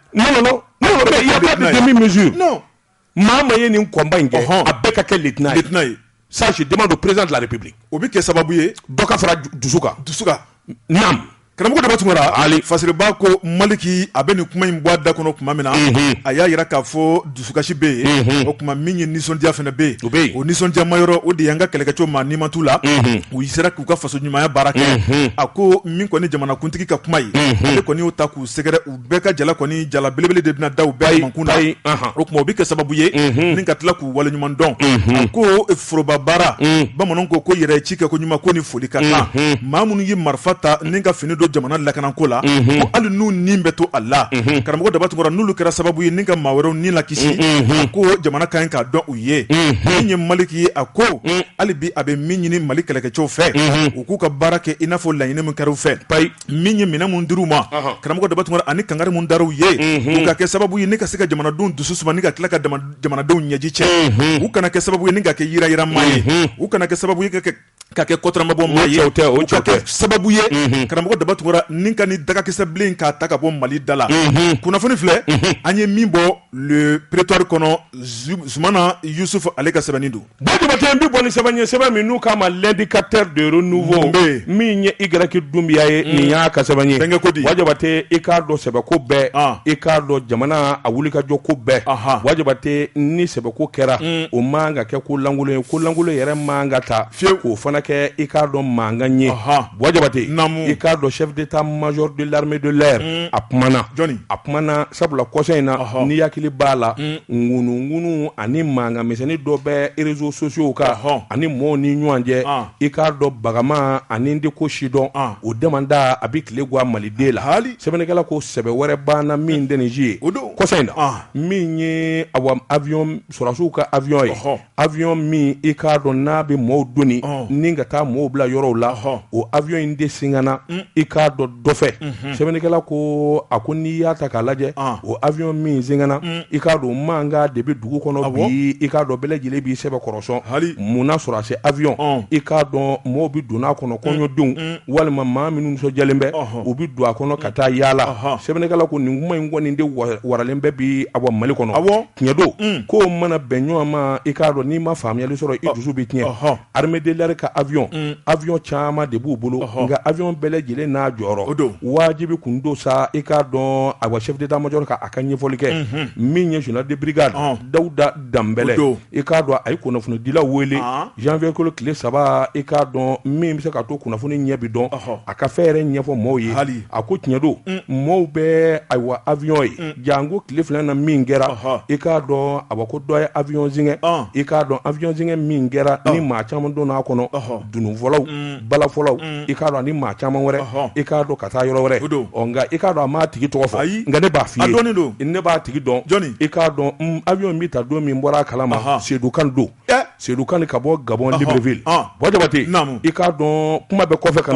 maa o maa ye nin combat in kɛ a bɛɛ ka kɛ lieutenant ye ça je demande au président de la république o bɛ kɛ sababu ye dɔ ka fara dusu dusu kan naam karamɔgɔ daba tunkara fasiriba ko maliki a bɛ nin kuma in bɔ a da kɔnɔ tuma min na a y'a jira k'a fɔ dusukasi bɛ yen o tuma min ye nisɔndiya fana bɛ yen o nisɔndiyama yɔrɔ o de y an ka kɛlɛkɛcɛw maa ni ma t'u la u sera k'u ka faso ɲumanya baara kɛ a ko min kɔni jamanakuntigi ka kuma ye ale kɔni y'o ta k'u sɛgɛrɛ bɛɛ ka jala kɔni jala belebele de bɛna da u bɛɛ kamankun na o tuma o bɛ kɛ sababu ye ni ka tila k'u waleɲuman dɔn a ko forobabaara bamananw ko ko yɛrɛ ci kɛ ko ɲuman ko ni foli ka kan maa minnu ye marifa ta ni ka fini don jamana lakanako la ko hali n'u ni bɛ to a la karamɔgɔ daba tunkara n'olu kɛra sababu ye ni ka maa wɛrɛw ni lakisi a ko jamana ka ɲi k'a dɔn u ye min ye maliki ye a ko hali bi a bɛ min ɲini mali kɛlɛkɛcɛw fɛ u k'u ka baara kɛ i n'a fɔ laɲini min kɛra u fɛ min ye minɛn minnu dir'u ma karamɔgɔ daba tunkara ani kankari minnu dar'u ye u ka kɛ sababu ye ni ka se ka jamanadenw dusu suma ni ka tila ka jamanadenw ɲɛji cɛ u kana kɛ sababu ye ni ka kɛ yirayira maa ye u kana kɛ sababu ye ka kɛ kotɔmabɔ maa ye u ka kɛ sababu ye karamɔgɔ daba tunkara ni ka ni dagakisɛbilen k'a ta ka bɔ mali da la kunnafoni filɛ an ye min bɔ le prétoire kɔnɔ zumana yusuf ale ka sɛbɛnni don Buwa jabatɛ n bɛ bɔ ni sɛbɛn ye sɛbɛn min n'u k'a ma l'indicateur de renouveau min ye Y dunbiya ye nin y'a ka sɛbɛn ye denkɛ kodi buwa jabatɛ i k'a dɔn sɛbɛko bɛɛ i k'a dɔn jamana a wulikajɔ ko bɛɛ buwa jabatɛ ni sɛbɛko kɛra o man ka kɛ ko lankolon ye ko lankolon yɛrɛ man ka taa fiye k'o fana kɛ i k'a dɔn mankan ye buwa jabatɛ i k'a dɔn chef d'état-major de l'armée de l'air a kumana a kumana sabula kɔsa in na n'i hakili b'a la ŋunuŋunu ani mankan misɛnnin dɔ bɛ réseaux sociaux kan ani mɔɔw ni ɲɔgɔn cɛ i k'a dɔn bagama ani de ko sidɔn o damada a bɛ tile gan maliden la sɛbɛnnikɛla ko sɛbɛ wɛrɛ banna min tɛ nin ye o don kɔsa in na min ye a avion sɔrɔsiw ka avion ye avion min i k'a dɔn n'a bɛ maaw doni ni ka taa maaw bila yɔrɔw la o avion in de singana mm. i k'a dɔn dɔ fɛ mhm. sɛbɛnnikɛla ko a ko n'i y'a ta k'a lajɛ ah. o avion min singana mm. i k'a dɔn mankan de bɛ dugu kɔnɔ ah bi i k'a dɔn bɛɛ lajɛlen b'i sɛbɛkɔrɔ sɔn mun na sɔrɔdasi avion ah. i k'a dɔn maaw bɛ don a kɔnɔ mm. kɔɲɔdenw walima maa minnu nisɔndiyalen bɛ u bɛ don a kɔnɔ ka taa yaala sɛbɛnnikɛla ko nin kuma in kɔni de waralen bɛ bi a bɔ mali kɔnɔ tiɲɛ don mm. ko mana bɛn ɲɔgɔn ma i k'a dɔn n'i ma faamuyali sɔrɔ i dusu bɛ tiɲɛ armée de l'air ka avion mm. avion caman de b'u bolo nka avion bɛɛ lajɛlen n'a jɔyɔrɔ wajibi kun don sa i k'a dɔn ayiwa chef d'état major ka a ka ɲɛfɔli kɛ mm-hmm. min ye général de brigade dawuda danbɛlɛ i k'a dɔn a ye kunnafonidilaw wele janvier kalo tile saba i k'a dɔn min bɛ se ka to kunnafoni ɲɛ bi dɔn a ka fɛn yɛrɛ ɲɛfɔ mɔɔw ye a ko tiɲɛ don mm. mɔɔw bɛ ayiwa avion ye mm. janko tile fila in na min kɛra i k'a dɔn a ko dɔ ye avion singa i k'a dɔn avion singa min kɛra ni maa caman donna a kɔnɔ dununfɔlaw balafɔlaw i k'a dɔn ni maa caman wɛrɛ i k'a dɔn ka taa yɔrɔ wɛrɛ don nka i k'a dɔn a m'a tigi tɔgɔ fɔ ayi nka ne b'a f'i ye ne b'a tigi dɔn dɔnni i k'a dɔn avion bɛ ta don min bɔra a kala ma Seydou Kane don Seydou Kane ka bɔ Gabon Libreville Buwa Jabate i k'a dɔn kuma bɛ kɔfɛ ka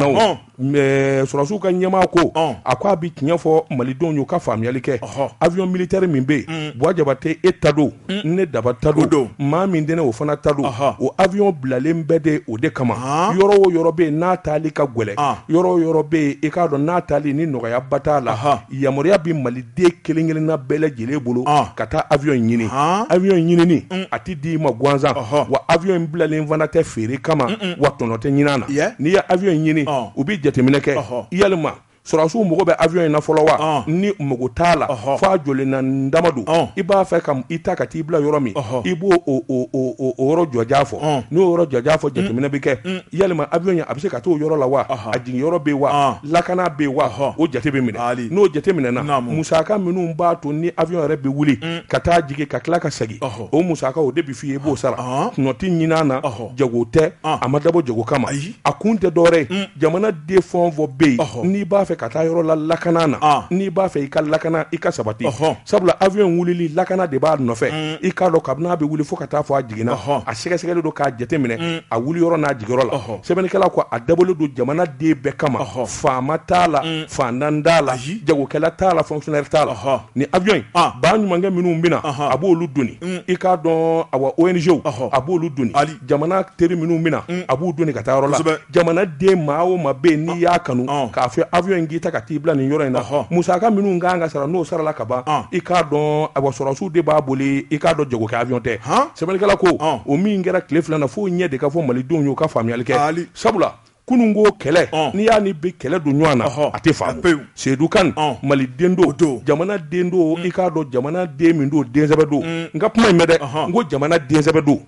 Mais sɔrɔsiw ka ɲɛmaa ko, ɔn, a ko a bɛ tiɲɛ fɔ malidenw ye u ka faamuyali kɛ, ɔhɔ, avion militaire min bɛ yen, Buwa Jabate e ta don, ne Daba ta don, o don, maa min tɛ ne ye o fana ta don, ɔhɔ, o avion bilalen bɛ de o de kama, ɔn, yɔrɔ o yɔrɔ bɛ yen n'a taali ka gɛlɛn, ɔn, yɔrɔ o yɔrɔ bɛ yen i k'a dɔn n'a taali ni nɔgɔyaba t'a la, ɔhɔ, yamaruya bɛ Mali den kelen-kelenna bɛɛ lajɛlen bolo ka taa avion in ɲini avion in ɲinini a tɛ di i ma gansan wa avion in bilalen fana tɛ feere kama wa tɔnɔ tɛ ɲini a na n'i ye avion in ɲini u bɛ jateminɛ kɛ yalima sɔrɔdasiw mago bɛ avion in na fɔlɔ wa ni mago t'a la fo a jɔlen na ni dama don i b'a fɛ ka i ta ka t'i bila yɔrɔ min i b'o o yɔrɔ jɔjaa fɔ n'o yɔrɔ jɔjaa fɔ jateminɛ bɛ kɛ yalima avion in a bɛ se ka taa o yɔrɔ la wa a jigin yɔrɔ bɛ wa lakana bɛ wa o jate bɛ minɛ n'o jate minɛna musaka minnu b'a to ni avion yɛrɛ bɛ wuli ka taa jigin ka tila ka segin o musaka o de bɛ fɔ i ye i b'o sara tɔnɔ tɛ ɲini a na jago tɛ a ma dabɔ jago kama ayi a kun tɛ dɔwɛrɛ ye jamana den fɛn o fɛn bɛ yen n'i b'a fɛ ka taa yɔrɔ la lakana na n'i b'a fɛ i ka lakana i ka sabati sabula avion in wulili lakana de b'a nɔfɛ mm. i k'a dɔn kabini a bɛ wuli fo ka taa fɔ a jiginna a sɛgɛsɛgɛlen don k'a jateminɛ mm. a wuli yɔrɔ n'a jigiyɔrɔ la sɛbɛnnikɛla ko a dabɔlen don jamana den bɛɛ kama faama t'a la mm. fantan t'a la jagokɛla t'a la fonctionnaire t'a la ni avion in ah. baɲumankɛ minnu bɛna a b'olu doni i k'a dɔn awa ONG-w a b'olu doni jamana teri minnu bɛna a b'u doni ka taa yɔrɔ la jamana den maa o maa bɛ n'i y'a kanu k'a fɔ avion in k'i ta ka t'i bila nin yɔrɔ in na musaka minnu kan ka sara n'o sarala ka ban i k'a dɔn a sɔrɔsiw de b'a boli i k'a dɔn jagokɛ avion tɛ sɛbɛnnikɛla ko o min kɛra tile fila na fo ɲɛ de ka fɔ malidenw y'u ka faamuyali kɛ sabula kunun ko kɛlɛ n'i y'a ni bi kɛlɛ don ɲɔgɔn na a tɛ faamu seyidu kane maliden don jamana den don i k'a dɔn jamana den min don den sɛbɛ don n ka kuma in mɛn dɛ n ko jamana den sɛbɛ don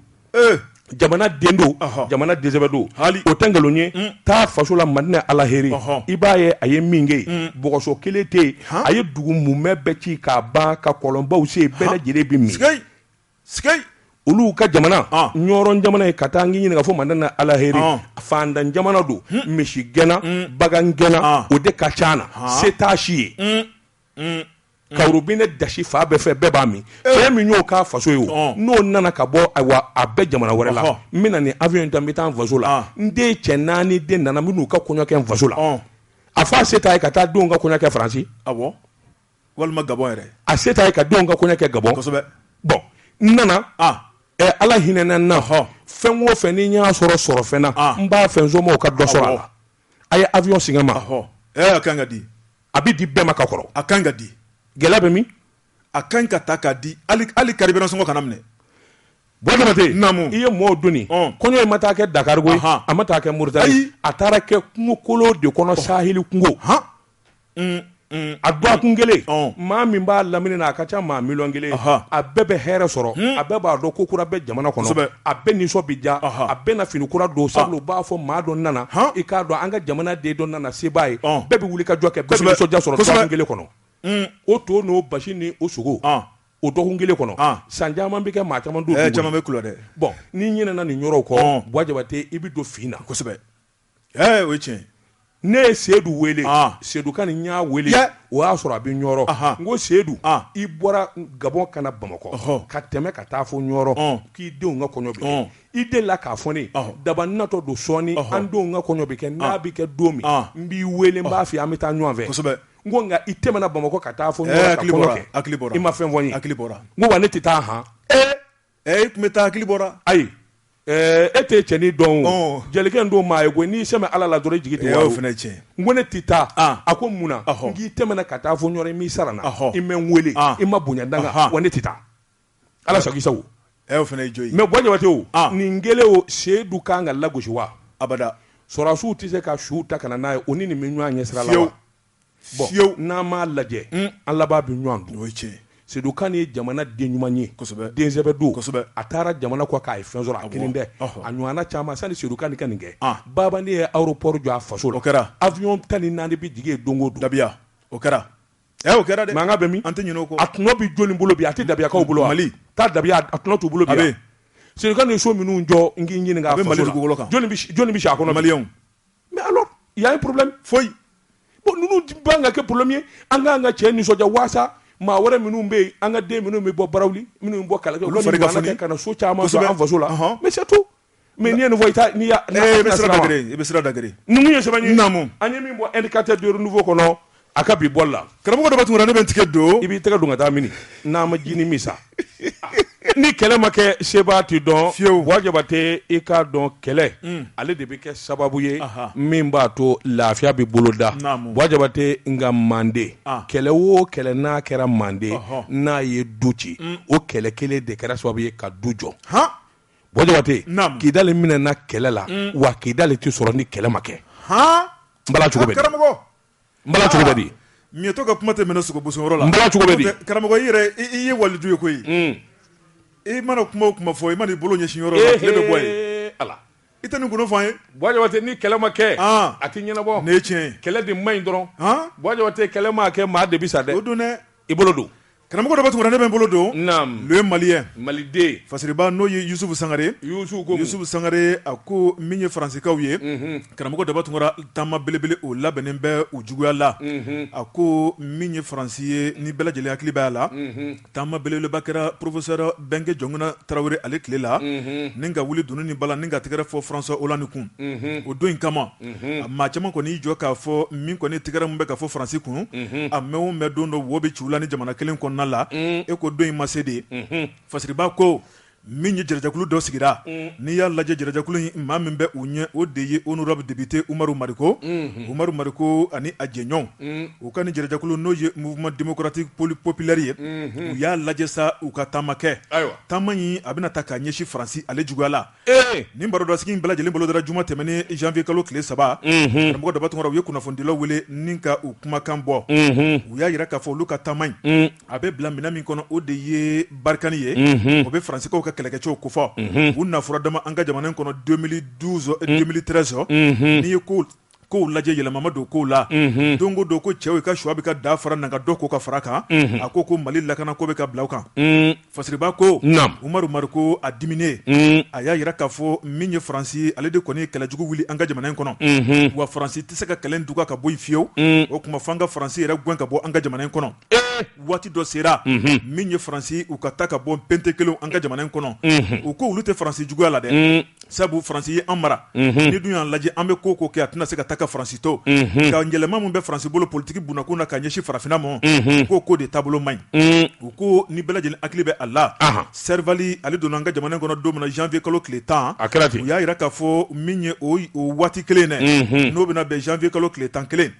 jamana den don jamana den sɛbɛ don hali o tɛ nkalon ye taa faso la madinɛ alaheri i b'a ye a ye min kɛ bɔgɔso kelen tɛ yen a ye dugu mumɛ bɛɛ ci k'a ban ka kɔlɔnbaw sen bɛɛ lajɛlen bɛ min olu ka jamana Ɲɔrɔ jamana ye ka taa n ɲininka fo madinɛ alaheri fantan jamana don misigɛnna bagangɛnna o de ka ca na se t'a si ye mm. ka robinɛ dasi fan bɛɛ fɛ bɛɛ b'a min eh. fɛn min y'o k'a faso ye o n'o nana ka bɔ ayiwa a bɛ jamana wɛrɛ la n bɛna nin avion in ta n bɛ taa n faso la ah. n den cɛ naani den nana n bɛn'u ka kɔɲɔ kɛ n faso la a fɔ a se t'a ye ka taa denw ka kɔɲɔ kɛ faransi walima gabɔn yɛrɛ a se t'a ye ka denw ka kɔɲɔ kɛ gabɔn kosɛbɛ bɔn n nana ah. eh, ala hinɛna n na fɛn o fɛn ni n y'a sɔrɔ sɔrɔfɛn na ah. n b'a fɛ n somɔgɔw ka dɔ sɔrɔ a la a ye avion singa a ma ɔhɔ ɛɛ a kan ka di a bɛ di bɛɛ ma ka kɔrɔ a kan ka di gɛlɛya bɛ min a kan ka ta k'a di hali hali carburant sɔngɔ kana minɛ Buwa Jabate naamu i ye mɔɔw doni ɔn kɔɲɔ in ma taa kɛ Dakar koyi Ahan a ma taa kɛ Mauritanie ayi a taara kɛ kungo kolon de kɔnɔ saheli kungo han a dɔgɔkun kelen maa min b'a lamini na a ka ca maa miliyɔn kelen a bɛɛ bɛ hɛrɛ sɔrɔ a bɛɛ b'a dɔn ko kura bɛ jamana kɔnɔ a bɛɛ nisɔn bɛ diya a bɛɛ na fini kura don sabula u b'a fɔ maa dɔ nana i k'a dɔn an ka jamana den dɔ nana se b'a ye bɛɛ bɛ wuli ka jɔ kɛ nisɔndiya sɔrɔ dɔgɔkun kelen kɔnɔ o to n'o basi ni o sogo o dɔgɔkun kelen kɔnɔ san caman bɛ kɛ maa caman don caman bɛ dɛ bɔn n'i ɲinɛna nin yɔrɔ kɔ Buwa Jabate i bɛ don fin na kosɛbɛ Ɛɛ o ye tiɲɛ ye. Ne ye Sedu wele. Ɔn! Sedu Kane n y'a wele. Yɛ! O y'a sɔrɔ a bɛ Ɲɔrɔ. Ɔnhɔn! N ko Sedu. Ɔn! I bɔra Gabɔn ka na Bamakɔ. Ɔhɔ! Ka tɛmɛ ka taa fo Ɲɔrɔ. Ɔn! K'i denw ka kɔɲɔ bɛ kɛ. Ɔn! I delila k'a fɔ ne ye. Ɔhɔ! Daba n natɔ don sɔɔni. Ɔhɔ! An denw ka kɔɲɔ bɛ kɛ. Ɔn! N'a bɛ kɛ don min. Ɔn! N b'i wele, n b'a f'i ye an bɛ taa ɲɔɔn fɛ. Kosɛbɛ! N ko nka i tɛmɛna Bamakɔ ka taa fo Ɲɔrɔ ka kɔɲɔ kɛ. Ɛɛ hakili bɔra. Hakili bɔra. I ma fɛn fɔ n ye. Hakili bɔra. N ko wa ne tɛ taa han. Ee! Ɛ e tun bɛ taa hakili bɔra ayi e tɛ cɛnin dɔn jelikɛ don maa ye ko n'i sɛmɛ ala la dɔrɔn i jigi tɛ wa o fana ye tiɲɛ n ko ne tɛ taa a ko mun na n k'i tɛmɛna ka taa fɔ ɲɔrɔ i m'i sara n na i bɛ n weele i ma bonya da n kan wa ne tɛ taa ala sago i sago o fana ye jo ye mais buwa jabate o nin kɛlen o seyidu ka kan ka lagosi wa abada sɔrɔdasiw tɛ se ka su ta ka na n'a ye o ni nin bɛ ɲɔgɔn ɲɛ sira la fiyew bon n'an m'a lajɛ an laban bɛ ɲɔgɔn dun o ye tiɲɛ Sedu Kan ye jamana den ɲuman ye kosɛbɛ den sɛbɛ don kosɛbɛ a taara jamana kɔkan a ye fɛn sɔrɔ a kelen tɛ a ɲɔgɔnna caman sani Sedu Kan ka nin kɛ Babani ye aéroport jɔ a faso la o kɛra avion tan ni naani bɛ jigin yen don o don dabiya o kɛra ɛ o kɛra dɛ mankan bɛ min an tɛ ɲinɛ o kɔ a tɔnɔ bɛ jɔni bolo bi a tɛ dabiyakaw bolo wa Mali t'a dabiya a tɔnɔ t'u bolo bi wa Sedu Kan ye so minnu jɔ n k'i ɲininka a bɛ Mali dugukolo kan jɔni bɛ si a kɔnɔ maliyɛnw Mɛ ala yan ye porobi foyi bon ninnu ban ka kɛ poromi ye an ka ka cɛ nisɔndiya waasa maa wɛrɛ minnu bɛ yen an ka den minnu bɛ bɔ bara minnu bɔ kala ka so caman faso la to mɛ nin fɔ i bɛ da ye sɛbɛn an ye min bɔ e ka tɛ don fɔ kɔnɔ a ka bi bɔli la karamɔgɔ daba tunkara ne bɛ n tɛgɛ don i b'i tɛgɛ don ka taa mini n'a ma jinin min sa ni kɛlɛ ma kɛ sebaa tɛ dɔn fiyewu buwa jabate i k'a dɔn kɛlɛ mm. ale de bɛ kɛ sababu ye min b'a to lafiya bɛ boloda buwa jabate nka manden ah. kɛlɛ o kɛlɛ n'a kɛra manden n'a ye du ci mm. o kɛlɛ kelen de kɛra sababu ye ka du jɔ buwa jabate kidali minɛna kɛlɛ la mm. wa kidali tɛ sɔrɔ ni kɛlɛ ma kɛ n bala cogo bɛ miyɛtɔ ka kuma tɛ minɛ sogo bosoyɔrɔ la karamɔgɔ i yɛrɛ i ye waliju ye koyi i mana kuma o kuma fɔ i mana i bolo ɲɛsin yɔrɔ la tile bɛ bɔ yen i tɛ nin kun fɔ an ye buwa jabate ni kɛlɛ ma kɛ a tɛ ɲɛnabɔ ne ye tiɲɛ kɛlɛ de man ɲi dɔrɔn buwa jabate kɛlɛ mana kɛ maa de bɛ sa dɛ o don i bolo don Karamɔgɔ daba tunkara ne bɛ n bolo don le malien maliden fasiriba n'o ye yusufu sangare yusufu sangare a ko min ye faransikaw ye karamɔgɔ daba tunkara taama belebele o labɛnnen bɛ u juguya la a ko min ye faransi ye ni bɛɛ lajɛlen hakili b'a la taama belebeleba kɛra professeur bɛnkɛ jɔnkunda tarawele ale tile la ni ka wuli dunun ni bala ni ka tɛgɛrɛ fɔ françois hollande kun o don in kama a maa caman kɔni y'i jɔ k'a fɔ min kɔni tɛgɛrɛ min bɛ ka fɔ faransi kun a mɛn o mɛn don dɔ wo bɛ ci la ni jamana kelen kɔnɔna la e ko don in ma se de fasiriba ko min ye jɛrɛjɛkulu dɔ sigira n'i y'a lajɛ jɛrɛjɛkulu in maa min bɛ u ɲɛ o de ye honorable député umaru mariko umaru mariko ani a jɛɲɔgɔnw u ka ni jɛrɛjɛkulu n'o ye mouvement démocratique populaire ye u y'a lajɛ sa u ka taama kɛ taama in a bɛna ta k'a ɲɛsin faransi ale juguya la Ee nin barodasigi in bɛɛ lajɛlen bolodara juma tɛmɛnen janvier kalo tile saba karamɔgɔ daba tunkara u ye kunnafonidilaw wele ni ka u kumakan bɔ u y'a jira k'a fɔ olu ka taama in a bɛ bila minɛn min kɔnɔ o de ye barikani ye o bɛ faransikaw ka kɛlɛkɛcɛw kofɔ u na fɔra dama an ka jamana in kɔnɔ deux mille douze deux mille treize n'i ye ko kow lajɛ yɛlɛma ma don kow la don o don ko cɛw ka suwa bɛ ka da fara na ka dɔ ko ka fara kan a ko ko mali lakana ko bɛ ka bila u kan fasiriba ko umaru mariko a diminen a y'a jira k'a fɔ min ye faransi ale de kɔni kɛlɛ jugu wuli an ka jamana in kɔnɔ wa faransi tɛ se ka kɛlɛ duga ka bɔ yen fiyewu o tuma fo an ka faransi yɛrɛ gɛn ka bɔ an ka jamana in kɔnɔ waati dɔ sera min ye faransi u ka taa ka bɔ pente kelen an ka jamana in kɔnɔ u ko olu tɛ faransi juguya la dɛ sabu faransi ye an mara n'i dun y'a lajɛ an bɛ ko o ko kɛ a tɛna se ka taa ka faransi to nka yɛlɛma min bɛ faransi bolo politiki bunakun na ka ɲɛsin farafinna ma ko o ko de taabolo man ɲi u ko ni bɛɛ lajɛlen hakili bɛ a la servali ale donna an ka jamana kɔnɔ don min na janvier kalo tile tan u y'a jira k'a fɔ min ye o waati kelen dɛ n'o bɛna bɛn janvier kalo tile tan kelen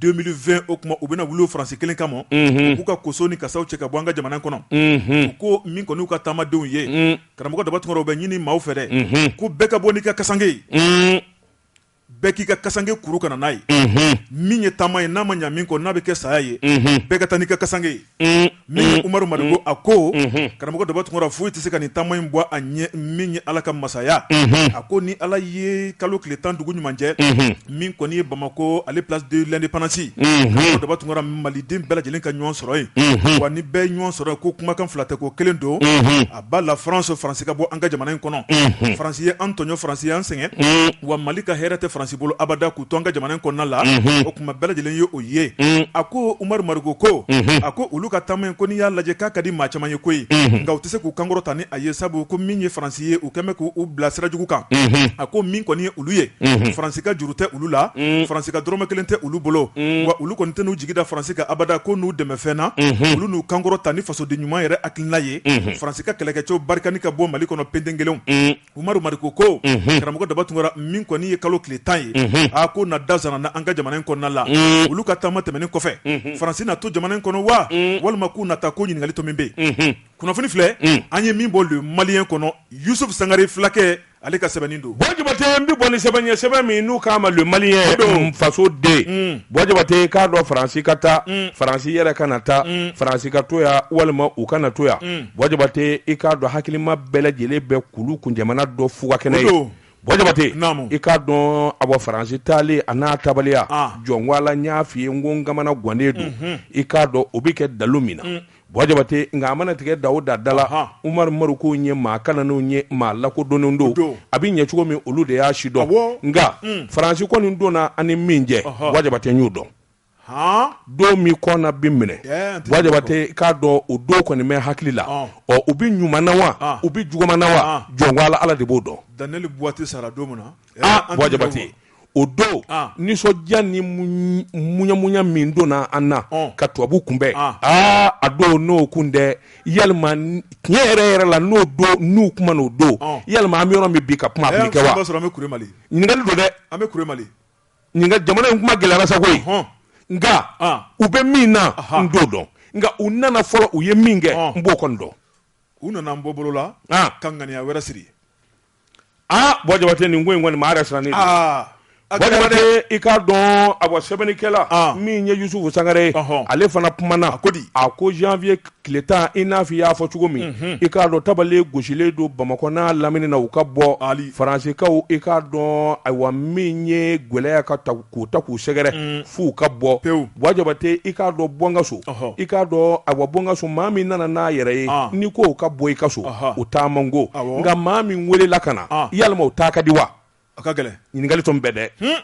deux mille vingt o tuma u bɛna wuli faransi kelen kama k'u ka koso ni kasaw cɛ ka bɔ an ka jamana kɔnɔ u ko min kɔni y'u ka taamadenw ye karamɔgɔ daba tunkara u bɛ ɲini maaw fɛ dɛ ko bɛɛ ka bɔ n'i ka kasanke ye bɛɛ k'i ka kasanke kuru ka na n'a ye min ye taama ye n'a ma ɲa min kɔ n'a bɛ kɛ saya ye bɛɛ ka taa n'i ka kasanke ye min ye umaru mariko a ko karamɔgɔ daba tunkara foyi tɛ se ka nin taama in bɔ a ɲɛ min ye ala ka masaya a ko ni ala ye kalo tile tan dugu ɲuman jɛ min kɔni ye bamakɔ ale place de l'indépendance karamɔgɔ daba tunkara maliden bɛɛ lajɛlen ka ɲɔgɔn sɔrɔ yen wa ni bɛɛ ɲɔgɔn sɔrɔ ko kumakan fila tɛ ko kelen don à bas la france faransi ka bɔ an ka jamana in kɔnɔ faransi ye an tɔɲɔ faransi ye an sɛgɛn wa mali ka hɛrɛ tɛ faransi bolo abada k'u to an ka jamana in kɔnɔna la o kuma bɛɛ lajɛlen ye o ye a ko umaru mariko ko a ko olu ka taama in ko n'i y'a lajɛ k'a ka di maa caman ye koyi nka u tɛ se k'u kan kɔrɔta ni a ye sabu ko min ye faransi ye u kɛlen bɛ k'u bila sira jugu kan a ko min kɔni ye olu ye faransi ka juru tɛ olu la faransi ka dɔrɔmɛ kelen tɛ olu bolo wa olu kɔni tɛn'u jigi da faransi kan abada ko n'u dɛmɛ fɛn na olu n'u kan kɔrɔta ni fasoden ɲuman yɛrɛ hakilina ye faransi ka kɛlɛkɛcɛw barikani ka bɔ mali kɔnɔ pente kelen umaru mariko ko karamɔgɔ daba tunkara min kɔni ye kalo tile tan ye a ko na da sara n' an ka jamana in kɔnɔna la olu ka taama tɛmɛnen kɔfɛ faransi na to jamana in kɔnɔ wa walima k'u na taa ko ɲininkali to min bɛ yen kunnafoni filɛ an ye min bɔ le malien kɔnɔ yusufu sangare filakɛ ale ka sɛbɛnni don bɔn jabate n bɛ bɔ ni sɛbɛn ye sɛbɛn min n'u k'a ma le malien faso den mm. bɔn jabate i k'a dɔn faransi ka taa mm. faransi yɛrɛ kana taa mm. faransi ka to yan walima u kana to yan bɔn jabate i k'a dɔn hakilima bɛɛ lajɛlen bɛ kulu kun jamanjan dɔn fuga kɛnɛ ye bɔn jabate i k'a dɔn a bɔ faransi taalen a n'a taabaliya ah. jɔnwala n y'a f'i ye n ko n kamana gannen don mhm. i k'a dɔn o bɛ kɛ dalu min na Bɔ jabate nka a mana tigɛ da o da la umaru mariko ye maa kalannenw ye maa lakodɔnnenw don a bɛ ɲɛ cogo min olu de y'a si dɔn nka faransi kɔni donna ani min jɛ bɔ jabate n y'o dɔn don min kɔna bɛ minɛ bɔ jabate i k'a dɔn o don kɔni bɛ hakili la ɔ u bɛ ɲuman na wa u bɛ juguman na wa jɔn ala de b'o dɔn daniel buwate sara don min na bɔ jabate o don nisɔndiya ni muyamuya min donna an na ka tubabu kunbɛn aa a don n'o kun dɛ yalima tiɲɛ yɛrɛ yɛrɛ la n'o don n'u kuma o don yalima an bɛ yɔrɔ min bi ka kuma a bɛ kɛ wa ɲininkali don dɛ jamana in kuma gɛlɛyara sa koyi nka u bɛ min na n t'o dɔn nka u nana fɔlɔ u ye min kɛ n b'o kɔni dɔn u nana n bɔ bolo la ka ŋaniya wɛrɛ siri aa bɔ jabate nin ko in kɔni maa yɛrɛ sirannen don ah, bɔ jabate i k'a dɔn a bɔ sɛbɛnnikɛla ah. min ye yusufu sangare ye ale fana kumana a ko di a ko janvier tile tan i n'a fɔ i y'a fɔ cogo min mhm. i k'a dɔn tabale gosilen don bamakɔ n'a lamini na u ka bɔ faransikaw i k'a dɔn ayiwa min ye gwɛlɛya ka ta k'u ta k'u sɛgɛrɛ mm. f'u ka bɔ pewu bɔ jabate i k'a dɔn bɔ n ka so i k'a dɔn ayiwa bɔ n ka so maa min nana n'a yɛrɛ ye ah. n'i ko ka bɔ i ka so u taa man go nka maa min welela ka na ah. yalima u taa ka di wa a ka gɛlɛn ɲininkali tun bɛɛ dɛ hmm.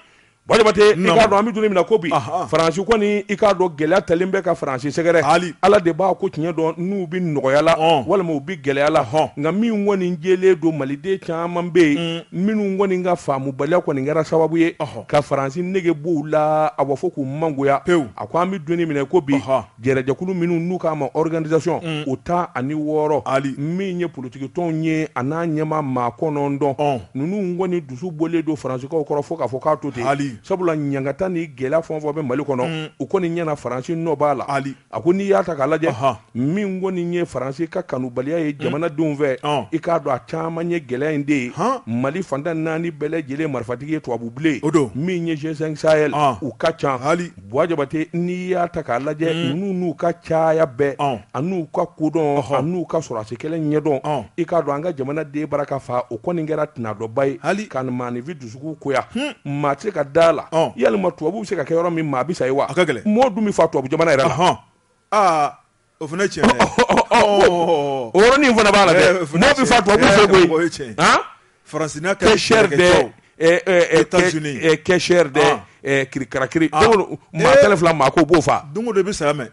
bɔ jabate i k'a dɔn an bɛ don min na ko bi faransi kɔni i k'a dɔn gɛlɛya talen bɛ ka faransi sɛgɛrɛ hali ala de b'a ko tiɲɛ dɔn n'u bɛ nɔgɔya la walima u bɛ gɛlɛya la nka min kɔni jɛlen don maliden caman bɛ yen hmm. minnu kɔni ka faamubaliya kɔni kɛra sababu ye ka faransi nege b'u la a b'a fɔ k'u mangoya pewu a ko an bɛ don min na ko bi jɛrɛjɛkulu minnu n'u k'a ma organisation mm. o tan ni wɔɔrɔ ali min ye politikitɔnw ye a n'a ɲɛmaa maa kɔnɔntɔn ninnu kɔni dusu bɔlen don faransikaw kɔrɔ fo k'a fɔ k'a to ten sabula ɲangata ni gɛlɛya fɛn o fɛn bɛ mali kɔnɔ mm. u kɔni ɲɛna faransi nɔ b'a la ali A ko n'i y'a ta k'a lajɛ min kɔni ye faransi ka kanubaliya ye jamanadenw fɛ i k'a dɔn a caman ye gɛlɛya in de ye mali fan tan ni naani bɛɛ lajɛlen marifatigi ye tubabu bilen o don min ye G5 Sahel ye u ka ca hali bɔ jabate n'i y'a ta k'a lajɛ ninnu n'u ka caya bɛɛ a n'u ka kodɔn n'u ka sɔrɔdasi kɛlɛ ɲɛdɔn i k'a dɔn an ka jamanaden bara ka faa o kɔni kɛra tana dɔba ye hali ka maaninfin dusu kun goya maa tɛ se ka da a la yalima tubabu bɛ se ka kɛ yɔrɔ min maa bɛ sa yen wa mɔgɔ dun bɛ faa tubabu jamana yɛrɛ la o fana tiɲɛ dɛ o yɔrɔnin fana b'a la dɛ mɔgɔ bɛ faa tubabu fɛ faransi la kɛ sɛ kɛ sɛ kirikarakiri maa fila maa ko b'o faa don de bɛ sa mɛ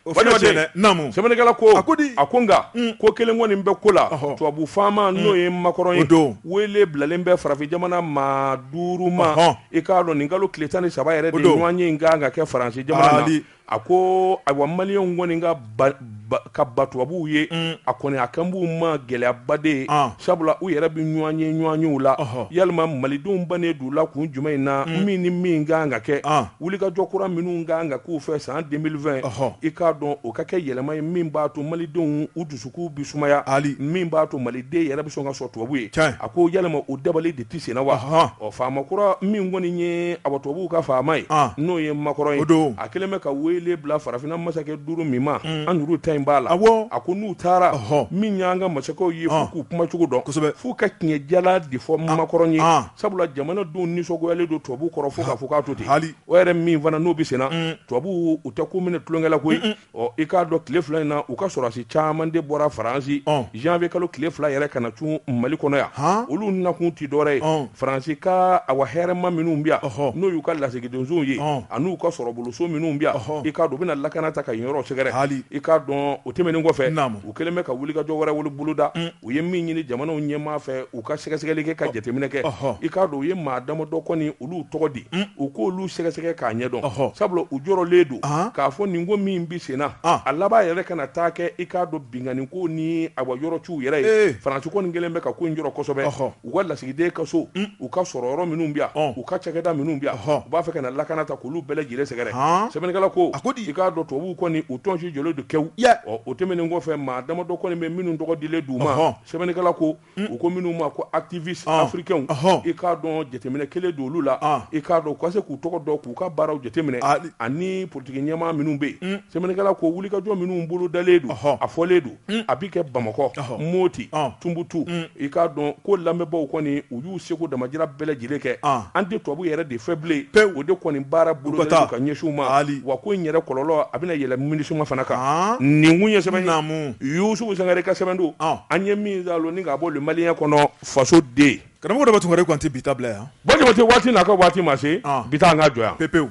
O fana Walima cɛ, dɛ, naamu. sɛbɛnnikɛla ko A ko di? a ko nka ko kelen kɔni bɛ ko la Ɔhɔ. tubabu faama n'o ye makɔrɔn ye O don. wele bilalen bɛ farafin jamana maa duuru ma Ɔhɔ. i k'a dɔn nin kalo tile tan ni saba yɛrɛ de O don. ɲɔgɔnye in ka kan ka kɛ faransi jamana na Hali. a ko ayiwa maliyɛnw kɔni ka ban ban ka ban tubabuw ye a kɔni a kan b'u ma gɛlɛyaba de ye An. sabula u yɛrɛ bɛ ɲɔgɔnye ɲɔgɔnyew la Ɔhɔ. yalima malidenw bannen don u la kun jumɛn in na min ni min ka kan ka kɛ An. wulikajɔ kura minnu ka kan ka k'u fɛ san 2020 ɔhɔ i k'a dɔn o ka kɛ yɛlɛma ye min b'a to malidenw u dusukun bi sumaya hali min b'a to maliden yɛrɛ bɛ sɔn ka sɔrɔ tubabu ye tiɲɛ a ko yɛlɛma o dabali de tɛ senna wa ɔhɔn ɔ faama kura min kɔni ye awa tubabuw ka faama ye an n'o ye makɔrɔn ye o don a kɛlen bɛ ka wele bila farafina masakɛ duuru min ma mm. an yɛrɛw ta in b'a la awɔ a ko n'u taara ɔhɔ min y'an ka masakɛw ye f'u k'u kuma cogo dɔn kosɛbɛ f'u ka tiɲɛ jalan de fɔ makɔrɔn ye Sabula jamanadenw nisɔngoyalen don tubabu kɔrɔ fo k'a fɔ k'a to ten, hali, o yɛrɛ min fana n'o bɛ senna, un, tubabuw u tɛ ko minɛ tulonkɛ la koyi, un un, ɔ i k'a dɔn tile fila in na u ka sɔrɔdasi caman de bɔra Faransi, ɔn, janvier kalo tile fila yɛrɛ ka na cun Mali kɔnɔ yan, han, olu nakun tɛ dɔwɛrɛ ye, ɔn, Faransi ka awa hɛrɛma minnu bɛ yan, ɔhɔ, n'o y'u ka lasigidonsow ye, ɔn, an'u ka sɔrɔboloso minnu bɛ yan, ɔhɔ, i k'a dɔn u bɛna lakana ta ka yen yɔrɔw sɛgɛrɛ, hali, i k'a dɔn o tɛmɛnen kɔfɛ, naamu, u kɛlen bɛ ka wulikajɔ wɛrɛ boloda, un. U ye min ɲini jamanaw ɲɛmaa fɛ u ka sɛgɛsɛgɛli kɛ ka jateminɛ kɛ i k'a dɔn u ye maa damadɔ kɔni olu tɔgɔ di u k'olu sɛgɛsɛgɛ k'a ɲɛdɔn sabula u jɔrɔlen don k'a fɔ nin ko min bɛ senna a laban yɛrɛ kana taa kɛ i k'a dɔn binkanni ko ni awa yɔrɔciw yɛrɛ ye faransi kɔni kɛlen bɛ ka ko in jɔrɔ kosɛbɛ u ka lasigiden ka so u ka sɔrɔyɔrɔ minnu bi yan u ka cakɛda minnu bi yan u b'a fɛ ka na lakana ta k'olu bɛɛ lajɛlen sɛgɛrɛ sɛbɛnnikɛla ko a ko di i k'a dɔn tubabuw kɔni u tɔnsi jɔlen don kɛwu ɔ o tɛmɛnen kɔfɛ maa damadɔ kɔni bɛ minnu tɔgɔ dilen d'u ma sɛbɛnnikɛla ko u ko minnu ma ko activistes africains i k'a dɔn jateminɛ kɛlen don olu la i k'a dɔn u ka se k'u tɔgɔ dɔn k'u ka baaraw jateminɛ ani politiki ɲɛmaa minnu bɛ yen sɛbɛnnikɛla ko wulikajɔ minnu bolodalen don a fɔlen don Mm. a bɛ kɛ bamakɔ moti tunbutu mm. i k'a dɔn ko labɛnbaaw kɔni u y'u seko damajira bɛɛ lajɛlen kɛ an tɛ tubabu yɛrɛ de fɛ bilen pe o de kɔni baara bolo ka ɲɛsin u ma wa ko in yɛrɛ kɔlɔlɔ a bɛna yɛlɛn minisuma fana kan nin kun ye sɛbɛn naamu yusufu sangare ka sɛbɛn don an ye min zaloni k'a bɔ le malien kɔnɔ fasoden karamɔgɔ dɔ bɛ tun wɛrɛ kɔni tɛ bi bila yan jabate waati n'a ka waati ma se bi ta an ka jɔ yan pewu